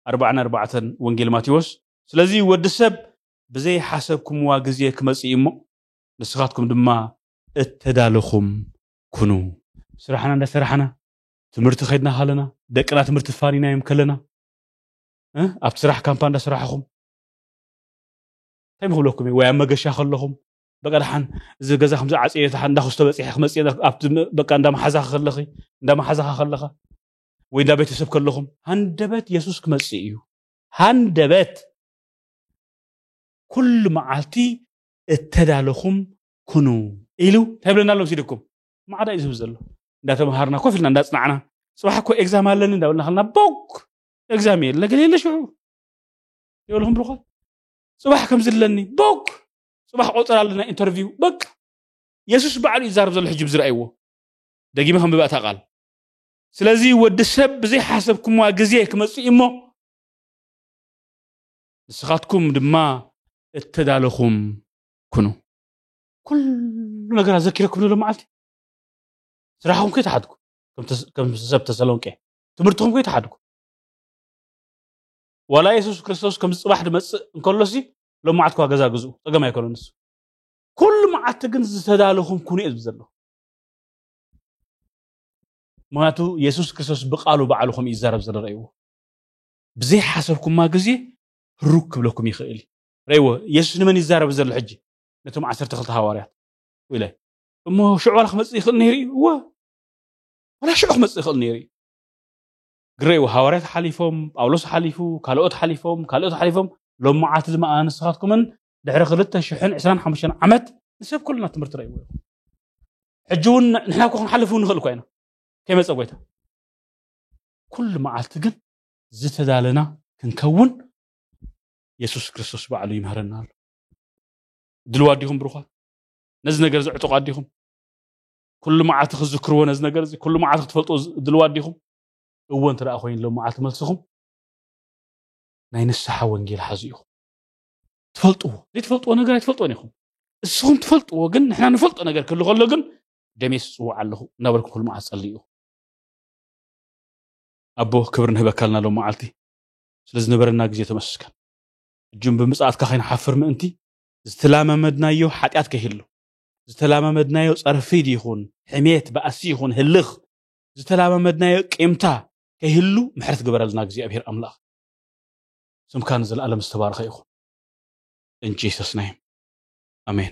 ኣርባዓን ኣርባዕተን ወንጌል ማቴዎስ፣ ስለዚ ወዲ ሰብ ብዘይ ሓሰብኩምዋ ግዜ ክመጽእ እዩ እሞ፣ ንስኻትኩም ድማ እተዳለኹም ኩኑ። ስራሕና እንዳ ሰራሕና፣ ትምህርቲ ከድና ካለና ደቅና ትምህርቲ ፋኒናዮም ከለና ኣብቲ ስራሕ ካምፓ እንዳሰራሕኹም እንታይ ምክብለኩም እዩ ወይ ኣብ መገሻ ከለኹም በቃ ደሓን እዚ ገዛ ከምዚ ዓፅየ ደሓን እንዳክስቶ በፂሐ ክመፅእ ኣብቲ በቃ እንዳ መሓዛኺ ከለኺ እንዳ መሓዛኻ ከለኻ ወይ እንዳ ቤተሰብ ከለኹም ሃንደበት የሱስ ክመፅእ እዩ ሃንደበት ኩሉ መዓልቲ እተዳለኹም ኩኑ ኢሉ እንታይ ብለና ኣሎ ምስ ኢድኩም ማዕዳ እዩ ዝህብ ዘሎ እንዳተምሃርና ኮፍ ኢልና እንዳፅናዕና ፅባሕ እኮ ኤግዛም ኣለኒ እንዳበልና ከልና ቦግ ኤግዛም የለ ገለ የለ ሽዑ ይበልኹም ብልኳት ፅባሕ ከምዚ ኣለኒ ቦግ ፅባሕ ቆፅር ኣለና ኢንተርቪው በቃ የሱስ ባዕሉ እዩ ዛረብ ዘሎ ሕጂ ብዝረኣይዎ ደጊመ ከምብባ እታ ቃል ስለዚ ወዲ ሰብ ብዘይሓሰብኩምዋ ግዜ ክመፅእ እሞ ንስኻትኩም ድማ እተዳለኹም ኩኑ ኩሉ ነገር ኣዘኪረኩም ዘሎ መዓልቲ ስራሕኹም ከይተሓድኩ ከም ሰብ ተሰሎንቄ ትምህርትኹም ከይተሓድኩ ዋላ የሱስ ክርስቶስ ከም ፅባሕ ድመፅእ እንከሎሲ ሎም መዓልቲ ኳ ገዛ ግዝኡ ፀገም ኣይኮነ ንሱ ኩሉ መዓልቲ ግን ዝተዳለኹም ኩኑ እየ ዝብል ዘለኹ ምክንያቱ የሱስ ክርስቶስ ብቃሉ ባዕሉ ከም እዩ ዝዛረብ ዘሎ ረእይዎ ብዘይሓሰብኩማ ግዜ ህሩግ ክብለኩም ይኽእል እዩ ረእይዎ የሱስ ንመን ይዛረብ ዘሎ ሕጂ ነቶም ዓሰርተ ክልተ ሃዋርያት ኢለ እሞ ሽዑ ዋላ ክመፅእ ይኽእል ነይሩ እዩ እወ ዋላ ሽዑ ክመፅእ ይኽእል ነይሩ እዩ ግረይ ሃዋርያት ሓሊፎም ጳውሎስ ሓሊፉ ካልኦት ሓሊፎም ካልኦት ሓሊፎም ሎም መዓልቲ ድማ ንስኻትኩምን ድሕሪ ክልተ ሽሕን ዕስራን ሓሙሽተን ዓመት ንሰብ ኩልና ትምህርቲ ረእይዎ እዩ ሕጂ እውን ንሕና እኮ ክንሓልፍ እውን ንኽእል እኳ ኢና ከይመፀ ጎይታ ኩሉ መዓልቲ ግን ዝተዳለና ክንከውን የሱስ ክርስቶስ ባዕሉ ይምህረና ኣሎ ድልዋ ዲኹም ብሩኳት ነዚ ነገር እዚ ዕጡቃት ዲኹም ኩሉ መዓልቲ ክዝክርዎ ነዚ ነገር እዚ ኩሉ መዓልቲ ክትፈልጡ ድልዋ ዲኹም እወ እንተ ኮይኑ ሎ መዓልቲ መልስኹም ናይ ንስሓ ወንጌል ሓዙ ኢኹም ትፈልጥዎ ዘይትፈልጥዎ ነገር ኣይትፈልጥዎን ኢኹም እስኹም ትፈልጥዎ ግን ንሕና ንፈልጦ ነገር ክህሉ ከሎ ግን ደሜስ ጽውዕ ኣለኹ እናበልኩ ኩሉ መዓልቲ ጸልዩ ኣቦ ክብሪ ንህበካልና ሎ መዓልቲ ስለዝነበረና ግዜ ተመስገን ሕጂ ብምጽኣትካ ከይንሓፍር ምእንቲ ዝተላማመድናዮ ሓጢኣት ከይህሉ፣ ዝተላማመድናዮ ጸርፊድ ይኹን ሕሜት፣ ባእሲ ይኹን ህልኽ፣ ዝተላማመድናዮ ቂምታ ከይህሉ ምሕረት ግበረልና እግዚኣብሄር ኣምላኽ። ስምካ ንዘለኣለም ዝተባረኸ ይኹን። In Jesus name. ኣሜን።